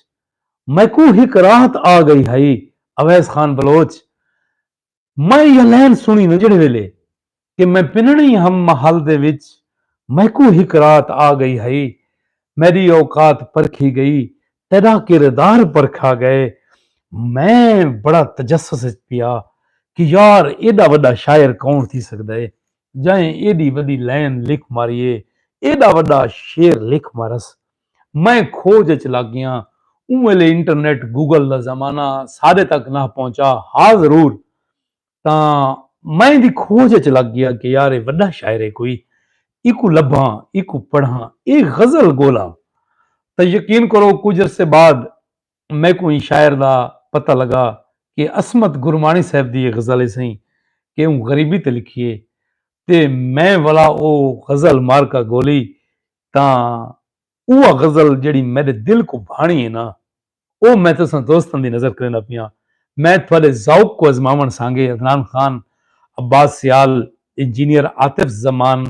میکوں ہک راحت آ گئی ہئی اویس خان بلوچ میں ایہا لائن سنڑی نہ جیڑھے ویلے کہ میں پنڑی ہم محل دے وچ میکوں ہک راحت آ گئی ہئی میݙی اوقات پرکھی ڳئی، تیݙا کردار پرکھا ڳئے۔ میں بڑا تجسس اچ پیا کہ یار ایݙا وݙا شاعر کون تھی سڳدا ہے جئیں ایݙی وݙی لائن لکھ ماری ہے، ایݙا وݙا شعر لکھ مارس۔ میں کھوڄ اچ لڳ ڳیاں۔ اوں ویلے انٹرنیٹ، گوگل دا زمانہ ساݙے تک نہ پہنچا ہا ضرور تاں میں دی کھوج اچ لگ گیا کہ یار اے وڈا شاعر اے کوئی ایکوں لبھاں ایکوں پڑھاں اے غزل گولاں تاں یقین کرو کجھ عرصے بعد میکوں ایں شاعر دا پتہ لگا کہ عصمت گرمانی صاحب دی اے غزل اے سئیں کہ اوں غریبی تے لکھی اے تے میں ولا او غزل مارکا گولی تاں اوہ غزل جیڑھی میڈے دل کوں بھانڑی ہے نا اوہ میں تساں دوستاں دی نظر کریندا پیاں۔ میں تہاڈے ذوق کوں ازماونڑ سانگے عدنان خان، عباس سیال، انجینئر عاطف زمان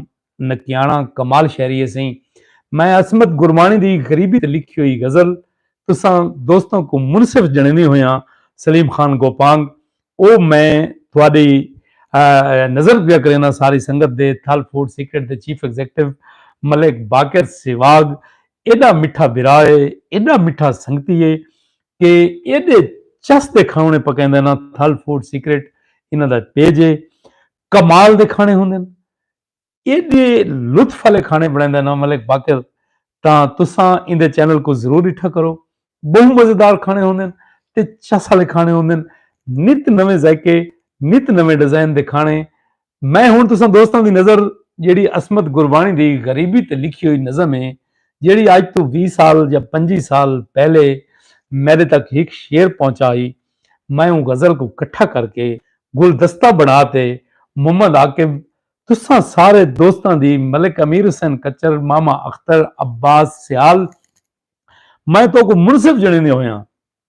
نکیانڑاں، کمال شہری ہے سئیں میں عصمت گرمانی دی غریبی تے لکھی ہوئی غزل تساں دوستاں کوں منصف جنڑیندے ہویاں سلیم خان گوپانگ او میں تہاڈی نظر پیا کرینداں ساری سنگت دے تھل فوڈ سیکرٹ دے چیف ایگزیکٹو ملک باقر سہواگ ایڈا مٹھا بھرا اے ایڈا مٹھا سنگتی اے کہ ایڈے چس دے کھانونے پکیندا نا تھل فوڈ سیکرٹ انہاں دا پیج اے کمال دے کھانے ہوندن ایڈے لطف والے کھانے بنائیں دا نام ملک باقر تاں تساں ان دے چینل کو ضرور ڈٹھا کرو بہو مزیدار کھانے ہوندن تے چس والے کھانے ہوندن نت نویں ذائقے نت نویں ڈیزائن دے کھانے میں ہن تساں دوستاں دی نظر جیڑی عصمت گربانی دی غریبی تے لکھی ہوئی نظم ہے جیڑی اج تو 20 سال یا 25 سال پہلے میرے تک ایک شعر پہنچا ہی میں اون غزل کو کٹھا کر کے گلدستہ بنا تے محمد عاقب تساں سارے دوستاں دی ملک امیر حسین کچر، ماما اختر، عباس سیال میں توکوں منصف جنڑیندے ہویاں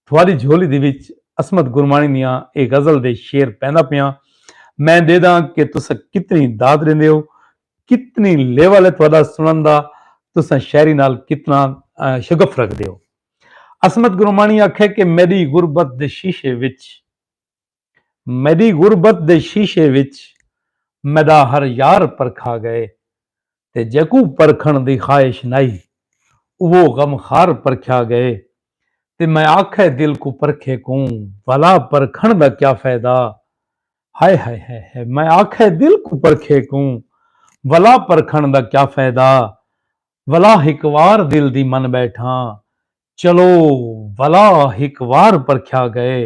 تھواری جھولی دی وچ عصمت گرمانی دیاں اے غزل دے شعر پیندا پیاں میں ڈیداں کہ تساں کتنی داد ڈیندے ہو کتنی لیول ہے تھوڑا سنن دا تساں شاعری نال کتنا شگف رکھدے ہو عصمت گرمانی آکھے کہ میڈی غربت دے شیشے وچ میݙی غربت دے شیشے وچ میݙا ہر یار پرکھا ڳئے تے جیکوں پرکھݨ دی خواہش نائی اوہو غم خوار پرکھیا ڳئے تے میں آکھئے دل کوں پرکھے کوں بھلا پرکھݨ دا کیا فیدہ ہائے ہائے ہائے ہائے میں آکھئے دل کوں پرکھے کوں بھلا پرکھݨ دا کیا فیدہ بھلا ہک وار دل دی من ٻیٹھاں چلو ولا ہک وار پرکھیا گئے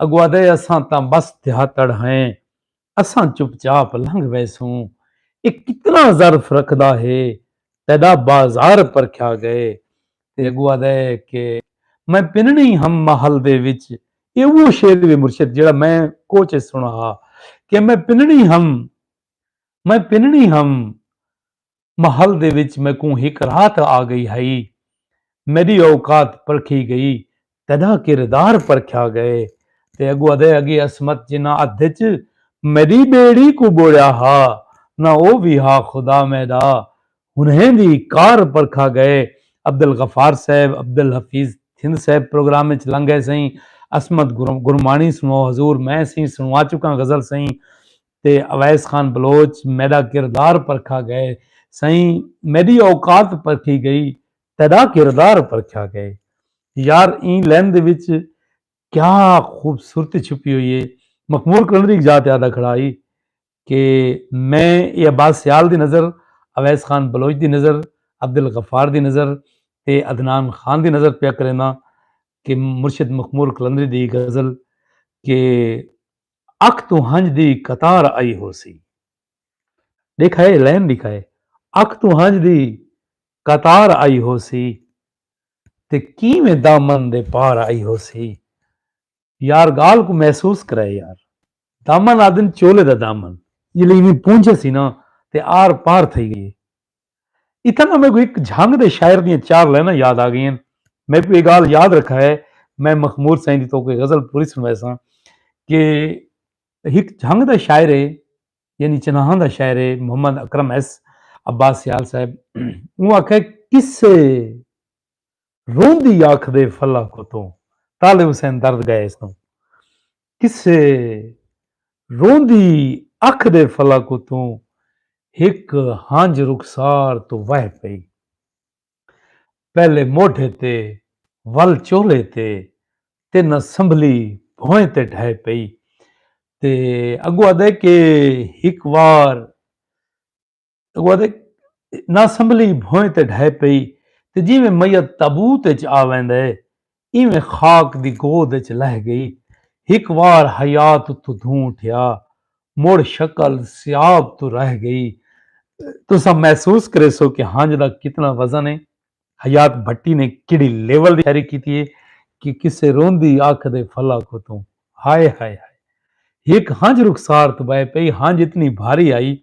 اگو آدھے اساں تاں بس دیہاتڑ ہیں اساں چپ چاپ لنگھ ویسوں اے کتنا ظرف رکھدا ہے تیڈا بازار پرکھیا گئے تے اگو آدھے کہ میں پننی ہم محل دے وچ اے اوہ شعر وے مرشد جیڑا میں کوچ اچ سنڑا ہا کہ میں پننی ہم میں پننی ہم محل دے وچ میکوں ہک رات آ گئی ہئی۔ میڈی اوقات پرکھی گئی، تیڈا کردار پرکھیا گئے تے اگو ادے اگے عصمت جنہاں ادھ اچ میڈی بیڑی کوں بوڑیا ہا نہ او وی ہا خدا میڈا انہیں وی کار پرکھا گئے عبدالغفار صاحب عبدالحفیظ تھند صاحب پروگرام اچ لنگھے سئیں عصمت گرمانی سنو حضور میں سئیں سنوا چکاں غزل سئیں تے اویس خان بلوچ میڈا کردار پرکھا گئے سئیں میڈی اوقات پرکھی گئی تیڈا کردار پرکھیا گئے یار ایں لین دے وچ کیا خوبصورتی چھپی ہوئی ہے مخمور کلندری اک جاہ تے آدھا کھڑا ہئی کہ میں اے عباس سیال دی نظر اویس خان بلوچ دی نظر عبدالغفار دی نظر تے عدنان خان دی نظر پیا کرینداں کہ مرشد مخمور کلندری دی غزل کہ اکھ توں ہنج دی قطار آئی ہوسی۔ ڈیکھا ہے لین ڈیکھا ہے۔ اکھ توں ہنج دی قطار آئی ہوسی۔ تے کیویں دامن دے پار آئی ہوسی۔ یار گال کوں محسوس کرے یار۔ دامن آدھن چولے دا دامن۔ جلے ایویں پونجھے سی نا تے آر پار تھئی گئی۔ اتھاں تاں میکوں ہک جھنگ دے شاعر دیاں چار لائناں یاد آ گئین۔ میکوں ایہ گالھ یاد رکھا ہے میں مخمور سئیں دی توکوں ایہ غزل پوری سنویساں کہ ہک جھنگ دا شاعر ہے یعنی چناہاں دا شاعر ہے محمد اکرم ایس عباس سیال صاحب اوں آکھے قصے روندی آکھدے فلا کو توں طالب حسین درد گئے سوں قصے روندی آکھدے فلا کو توں ہک ہنج رخسار توں وہہ پئی پہلے موڈھے تے ول چولھے تے تے نہ سنبھلی بھوئیں تے ڈھہہ پئی تے اگوں آدھے کہ ہک وار اگوادے ناسنبھلی بھوئیں تے ڈھے پئی تے جیویں میت تابوت اچ آ ویندے ایویں خاک دی گود اچ لہہ گئی۔ ہک وار حیات اتھو دھوں اٹھیا مڑ شکل سیاب توں رہ گئی۔ تساں محسوس کریسو کہ ہنج دا کتنا وزن ہے۔ حیات بھٹی نے کیڑھی لیول دی شاعری کیتی ہے کہ کسے روندی اکھ دے پھلا کو توں ہائے ہائے ہائے ہک ہنج رخسار توں بہہ پئی ہنج اتنی بھاری آئی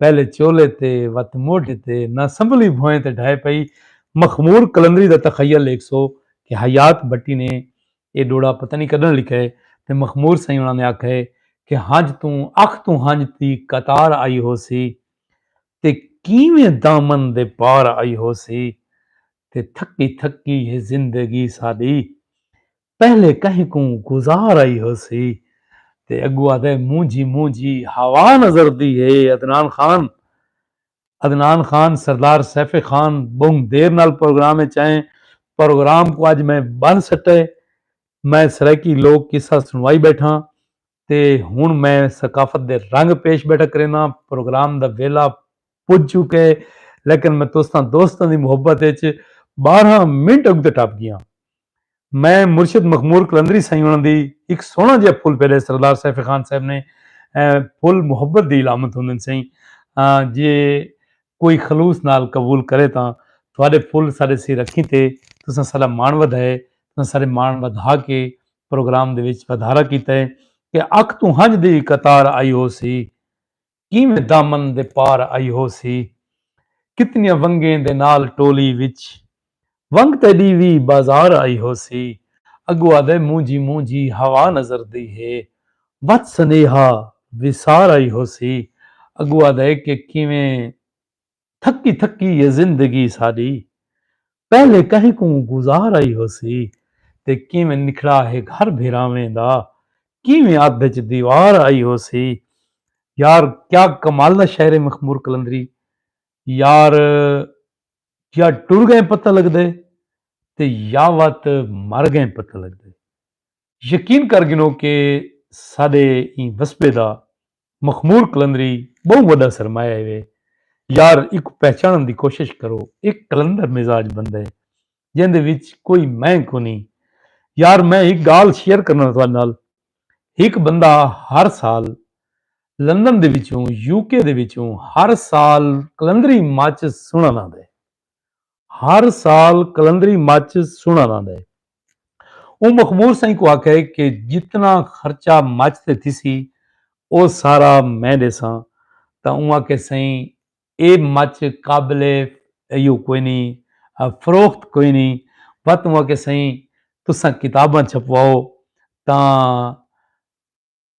پہلے چولے تے وت موڈھے تے نہ سنبھلی بھوئیں تے ڈھہہ پئی مخمور قلندری دا تخیل ڈیکھسو کہ حیات بھٹی نے اے ڈوڑا پتہ نی کڈن لکھا ہے تے مخمور سئیں انہاں نے آکھا ہے کہ ہنج توں اکھ توں ہنج دی قطار آئی ہوسی تے کیویں دامن دے پار آئی ہوسی تے تھکی تھکی اے زندگی ساݙی پہلے کہیں کوں گزار آئی ہوسی تے اڳوں آہدے مونجھی مونجھی ہوا نظردی ہے عدنان خان عدنان خان سردار سیف خان ٻہوں دیر نال پروگرام اچ آئے پروگرام کوں اڄ میں ٻن سٹئے میں سرائیکی لوک قصہ سݨوائی ٻیٹھاں تے ہݨ میں ثقافت دے رنگ پیش بیٹھا کرینداں۔ پروگرام دا ویلھا پڄ چکے لیکن میں تساں دوستاں دی محبت اچ ٻارہاں منٹ اڳتے ٹپ ڳیاں۔ میں مرشد مخمور قلندری سئیں ہوݨاں دی ہک سوہݨا جیہا پھل پھیلے سردار سیف خان صاحب نے پھل محبت دی علامت ہوندن سئیں جے کوئی خلوص نال قبول کرے تاں تہاݙے پھل ساݙے سر اکھیں تے تساں ساݙا ماݨ ودھائے تساں ساݙے ماݨ ودھا کے پروگرام دے وچ ودھارا کیتا ہے کہ اکھ توں ہنج دی وی قطار آئی ہو سی کیویں دامن دے پار آئی ہو سی کتنیاں ونگیں دے نال ٹولی وچ ونگ تیڈی وی بازار آئی ہو سی اگو آدھے مونجھی مونجھی ہوا نظر دی ہے وت سنیہا وسار آئی ہو سی اگو آدھے کہ کیویں تھکی تھکی اے زندگی ساݙی پہلے کہیں کوں گزار آئی ہوسی تے کیویں نکھڑا ہے گھر بھیراویں دا کیویں ادھ اچ دیوار آئی ہوسی یار کیا کمال دا شاعر ہے مخمور قلندری یار یا ٹر گئیں پتہ لگدے تے یا وت مر گئیں پتہ لگدے۔ یقین کر گھنو کہ ساڈے ایں وسبے دا مخمور قلندری بہوں وڈا سرمایہ ہیوے۔ یار ایکوں پہچانڑن دی کوشش کرو۔ اے قلندر مزاج بندہ ہے جیندے وچ کوئی میں کونی۔ یار میں ہک گالھ شیئر کرنا تہاڈے نال۔ ہک بندہ ہر سال لندن دے وچوں، یو کے دے وچوں ہر سال قلندری ماچس سنڑن آندے۔ ہر سال قلندری مچ سنڑ آندا ہے۔ اوں مخمور سئیں کوں آکھیا ہے کہ جتنا خرچہ مچ تے تھیسی او سارا میں ڈیساں تاں اوں آکھیا سئیں اے مچ قابل ایو کوئی نی فروخت کوئی نی وت اوں آکھیا سئیں تساں کتاباں چھپواؤ تاں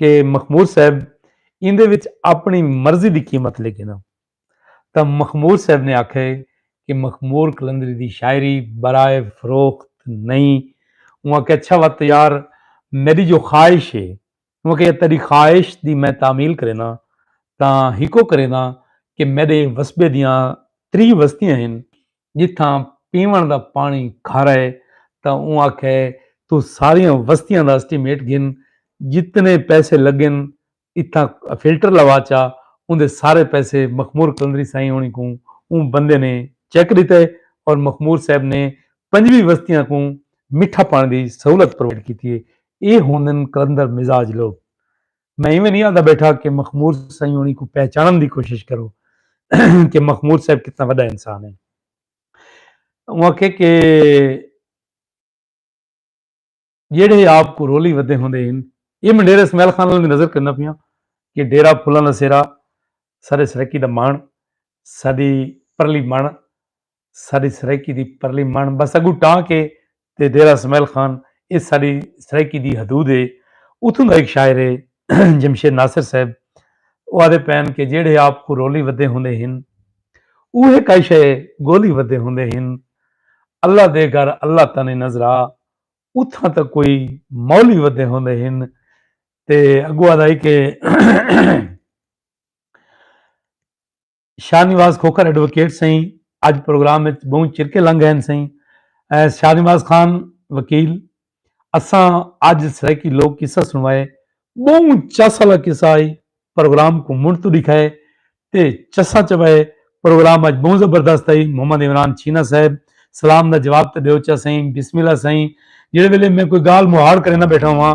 کہ مخمور صاحب ایندے وچ اپنی مرضی دی قیمت لے گھنا تاں مخمور صاحب نے آکھے کہ مخمور قلندری دی شاعری برائے فروخت نہیں انہاں کہ اچھا وت یار میری جو خواہش ہے انہاں کہ تیری خواہش دی میں تعمیل کرینا تاں ہکو کرینا کہ میرے وسبے دیاں تری وستیاں ہیں جتھاں پیوݨ دا پاݨی کھارا اے تاں اوں آکھیا اے توں ساریاں وستیاں دا اسٹیمیٹ گھن جتنے پیسے لڳن اتھاں فلٹر لوا چا اوندے سارے پیسے مخمور قلندری سائیں ہوݨیں کوں اوں بندے نے چیک ݙتا اے اور مخمور صاحب نے پنجوی وستیاں کوں مٹھا پاݨی دی سہولت پرووائیڈ کیتی اے اے ہوندن قلندر مزاج لوک میں ایویں نہیں آندا بیٹھا کہ مخمور سائیں ہونی کو پہچانن دی کوشش کرو کہ مخمور صاحب کتنا وڈا انسان ہے وہ کہ کہ جیڑے آپ کو رولی ودے ہوندے ہیں یہ میں ڈیرہ اسماعیل خان والی نظر کرنا پیا کہ ڈیرہ پھولاں دا سیرا سارے سرکی دا مان ساری پرلی مان ساݙی سرائیکی دی پرلی مݨ بس اڳوں ٹانک ہے تے ڈیرہ اسماعیل خان اے ساݙی سرائیکی دی حدود ہے۔ اتھوں دا ہک شاعر ہے جمشید ناصر صاحب او آہدے پئن کہ جیڑھے آپ کوں رولی ودھے ہوندے ہن اوہے کائی شئے ڳولی ودھے ہوندے ہن اللہ دے گھر اللہ تاں نئیں نظرا اتھاں تاں کوئی مولی ودھے ہوندے ہن تے اڳوں آہدا ہئی کہ شاہ نواز کھوکھر ایڈووکیٹ سئیں اج پروگرام وچ بہوں چرکے لنگ ہیں سئیں شاہ نواز خان وکیل اساں اج سرائیکی لوگ قصہ سنوائے بہوں چس والا قصہ آئی پروگرام کو منڈ تو دکھائے تے چسا چوائے پروگرام اج بہوں زبردست آئی محمد عمران چھینا صاحب سلام دا جواب تے دیو چا سئیں بسم اللہ سئیں جڑے ویلے میں کوئی گال مہاڑ کرے نہ بیٹھا ہوں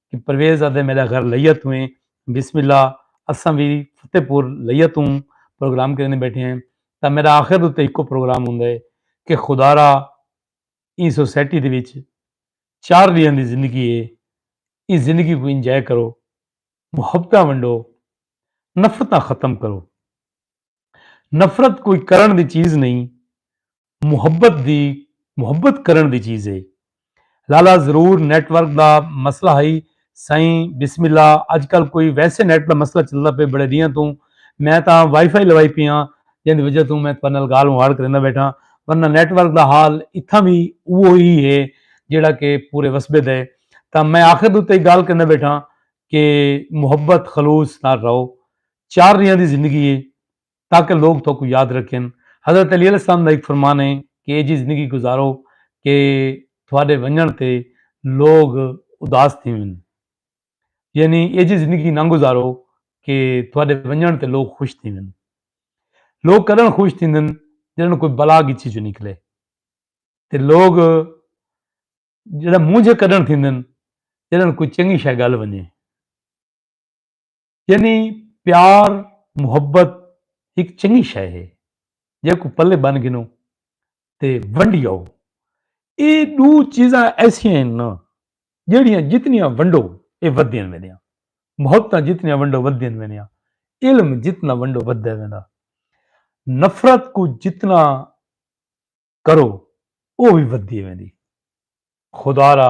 کہ پرویز آدھے میڈا گھر لیا تو ہیں بسم اللہ اساں بھی فتح پور لیا تو پروگرام کرنے بیٹھے ہیں تا میرا آخر دو تے ایکو پروگرام ہوں دے کہ خدا را این سوسیٹی دے وچ چار لیاں دی زندگی ہے این زندگی کو انجائے کرو محبتہ ونڈو نفرتہ ختم کرو نفرت کوئی کرݨ دی چیز نئیں محبت دی محبت کرݨ دی چیز ہے لالا ضرور نیٹ ورک دا مسئلہ ہئی سائیں بسم اللہ اج کل کوئی ویسے نیٹ دا مسئلہ چلدا پے بڑے دیاں توں میں تاں وائی فائی لوائی پیاں جن دی وجہ توں میں تہاڈے نال گال مہاڑ کریندا بیٹھا ورنہ نیٹ ورک دا حال اتھاں بھی اوہو ہی ہے جیڑا کہ پورے وسبے دے تاں میں آخر دے تے گال کریندا بیٹھا کہ محبت خلوص نال رہو چار ریاں دی زندگی ہے تاکہ لوگ تہاکوں یاد رکھن۔ حضرت علی علیہ السلام دا ہک فرمان ہے کہ ایجھی زندگی گزارو کہ تہاڈے ونجنڑ تے لوگ اداس تھیون۔ یعنی ایجھی زندگی نہ گزارو کہ تہاڈے ونجنڑ تے لوگ خوش تھیون۔ لوگ کڈنڑ خوش تھیندن جڈنڑ کوئی بلا گچھی چوں نکلے تے لوگ جڈنڑ مونجھے کڈنڑ تھیندن جڈنڑ کوئی چنگی شے گل ونجے۔ یعنی پیار محبت ہک چنگی شے ہے جیکوں پلے بن گھنو تے ونڈی آؤ اے دو چیزاں ایسیاں ہیں نا جیڑیاں جتنیاں ونڈو اے ودیاں ویندیاں محبتاں جتنیاں ونڈو ودیاں ویندیاں علم جتنا ونڈو ودے ویندا نفرت کو جتنا کرو او بھی ودی ویندی خدا را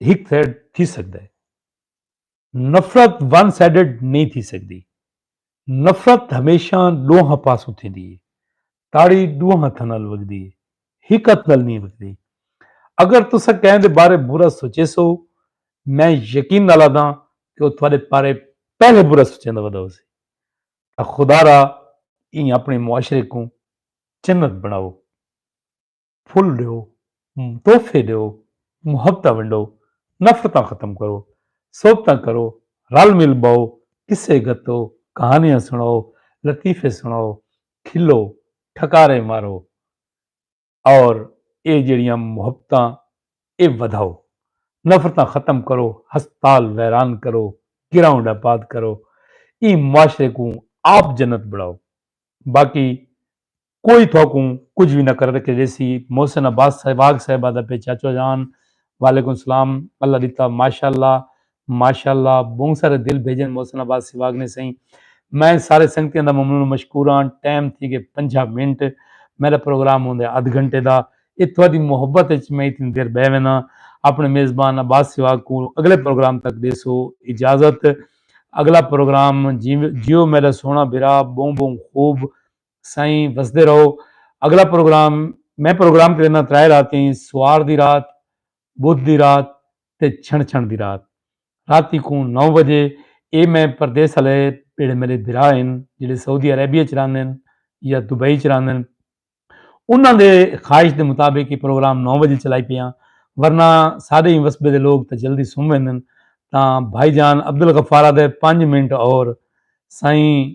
ہک سائیڈ تھی سکدا ہے نفرت ون سائیڈڈ نہیں تھی سکدی نفرت ہمیشہ ڈوہاں پاسوں تھیندی ہے تاڑی ڈوہاں ہتھاں نال وگدی ہے ہک ہتھ نال نہیں وگدی اگر تسا کہیں دے بارے برا سوچے سو میں یقین نال آدھاں کہ وہ تھوڑے پارے پہلے برا سوچیں دا ودا ہو سی خدا را اپنے معاشرے کو جنت بناؤ پھل ݙیو، تحفے ݙیو، محبتاں ونڈو، نفرتاں ختم کرو، صحبتاں کرو، رل مل ٻہو، قصے گھتو، کہانیاں سݨاؤ، لطیفے سݨاؤ، کھلو، ٹھکارے مارو اور اے جیڑھیاں محبتاں اے ودھاؤ، نفرتاں ختم کرو، ہسپتال ویران کرو، گراؤنڈ آباد کرو، ایں معاشرے کوں آپ جنت بݨاؤ، باقی کوئی تھوکوں کجھ وی نہ کرر کے ڈیسی محسن عباس صاحب واگ صاحبہ دا پے چاچو جان وعلیکم سلام اللہ ڈتا ماشاءاللہ ماشاءاللہ بہوں سارے دل بھیجن محسن عباس سی واگ نے سئیں میں سارے سنگتیاں دا ممنون مشکوراں ٹائم تھی گے پنجھا منٹ میرا پروگرام ہوندے ادھ گھنٹے دا اے تھوڑی محبت اچ میں اتنی دیر بہ وینا اپنے میزبان عباس سی واگ کو اگلے پروگرام تک دیسو اجازت اگلا پروگرام جیو میرا سونا بھرا بہوں بہوں خوب سائیں وسدے رہو اگلا پروگرام میں پروگرام کرینا ترائے راتی سوار دی رات بدھ دی رات تے چھن چھن دی رات راتی کوں نو بجے اے میں پردیس والے جڑے میرے بھرا ہن جڑے سعودی عربیہ چ رہندن یا دبئی چ رہندن انہاں دے خواہش دے مطابق یہ پروگرام نو بجے چلائی پیاں ورنہ سارے ہی وسبے دے لوگ تے جلدی سم ویندن تاں بھائی جان عبدالغفارہ دے پانچ منٹ اور سائیں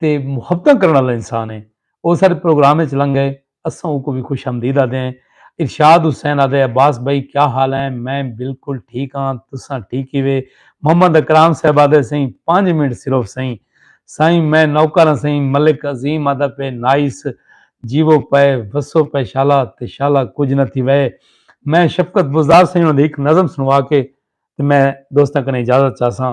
تے محبتاں کرݨ آلا انسان اے۔ او ساݙے پروگرام اچ لنگھ ڳئے، اساں اوکوں وی خوش آمدید آہدے ہیں۔ ارشاد حسین آہدے عباس بھائی کیا حال ہیں؟ میں بالکل ٹھیک ہاں، تساں ٹھیک کیوے؟ محمد اکرام صاحب آہدے سئیں پنج منٹ صرف سئیں۔ سائیں میں نوکر ہاں سئیں، ملک عظیم آہدا پئے نائس، جیوو پئے، وسو پئے شالا تے شالا کجھ نہ تھیوئے۔ میں شفقت بزدار سئیں انہاں دی ہک نظم سݨوا کے تے میں دوستاں کنیں اجازت چاہساں۔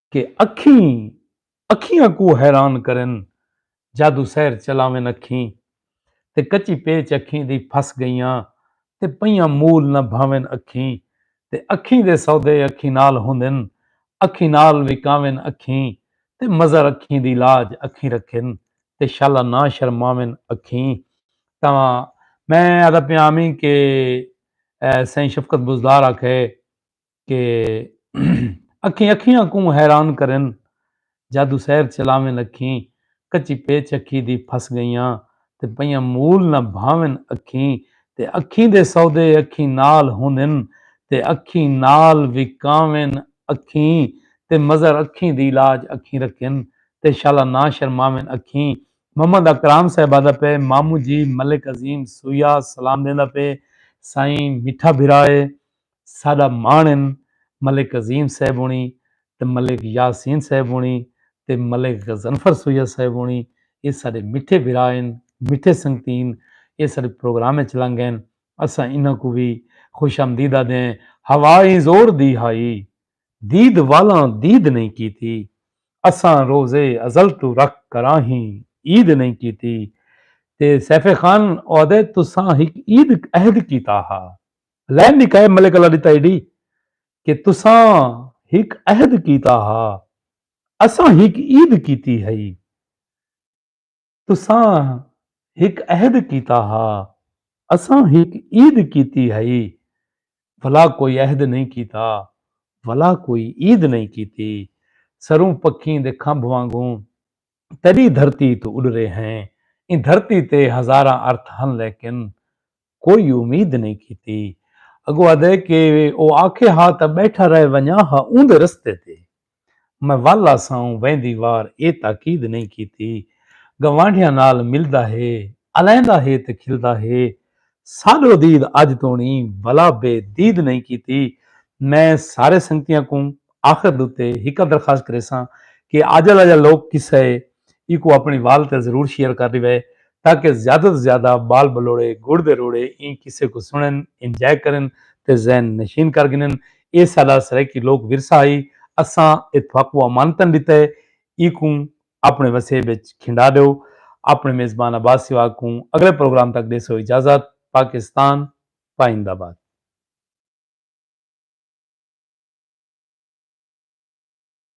کہ اکھیں اکھیاں کوں حیران کرن جادو سحر چلاون اکھیں تے کچی پیچ اکھیں دی پھس گئیاں تے پئیاں مول نہ بھاون اکھیں تے اکھیں دے سودے اکھیں نال ہوندن اکھیں نال وکاون اکھیں تے مظہر اکھیں دی لاج اکھیں رکھن تے شالا نہ شرماون اکھیں تاں میں آہدا پیاں ہمیں کہ سئیں شفقت بزدار آکھئے کہ اکھیں اکھیاں کوں حیران کرن جادو سیر چلاون اکھیں کچی پیچ اکھی دی پھس گئیاں تے پئیاں مول نہ بھاون اکھیں تے اکھیں دے سودے اکھیں نال ہوندن تے اکھیں نال وکاون اکھیں تے مزر اکھیں دی لاج اکھیں رکھن تے شالا نہ شرماون اکھیں۔ محمد اکرام صاحب آہدا پئے مامو جی ملک عظیم سویا سلام ݙیندا پئے سائیں میٹھا بھرا اے ساڈا مان ہن ملک عظیم صاحب ہونی تے ملک یاسین صاحب ہونی تے ملک غضنفر سید صاحب ہونی اے ساڈے مٹھے بھرا ہن مٹھے سنگتی ہن اے ساڈے پروگرام اچ لنگ گئن اساں انہاں کوں وی خوش آمدید آدھے ہیں ہوا ایں زور دی ہائی دید والاں دید نہیں کیتی اساں روز ازل توں رکھ کراہیں عید نہیں کیتی تے سیف خان او آدھے تساں ہک عید عہد کیتا ہا لین دی کہہ ملک اللہ ڈتا ایڈی کہ تساں ہک عہد کیتا ہا اساں ہک عید کیتی ہئی تساں ہک عہد کیتا ہا اساں ہک عید کیتی ہئی بھلا کوئی عہد نہیں کیتا بھلا کوئی عید نہیں کیتی سروں پکھیں دے کھمب وانگوں تیݙی دھرتی توں اݙرے ہیں۔ ایں دھرتی تے ہزاراں ارتھ ہن لیکن کوئی امید نئیں کیتی۔ اڳوں آہدے کہ او آکھے ہا تاں ٻیٹھا رہ ونڄاں ہا اوندے رستے تے۔ میں ول آساؤں ویندی وار اے تاکید نئیں کیتی۔ گوانڈھیاں نال ملدا ہے، الیندا ہے تے کھلدا ہے۔ ساڈو دید اج توڑیں ولا بے دید نئیں کیتی۔ میں سارے سنگتیاں کوں آخر دتے ہکا درخواست کریساں کہ آجل آجل لوک قصہ اے ایکوں اپنڑی وال تے ضرور شیئر کر ڈیوے تاکہ زیادہ توں زیادہ بال بلوڑے گڑ دے روڑے ایں قصے کوں سنڑن انجائے کرن تے ذہن نشین کر گھنن اے ساڈا سرائیکی لوک ورثہ ہئی اساں اتفاقو امانتن ڈتے ایکوں اپݨے وسیب اچ کھنڈا ݙیو اپݨے میزبان عباس سواگ کوں اڳلے پروگرام تک ݙیسو اجازت پاکستان پائند آباد۔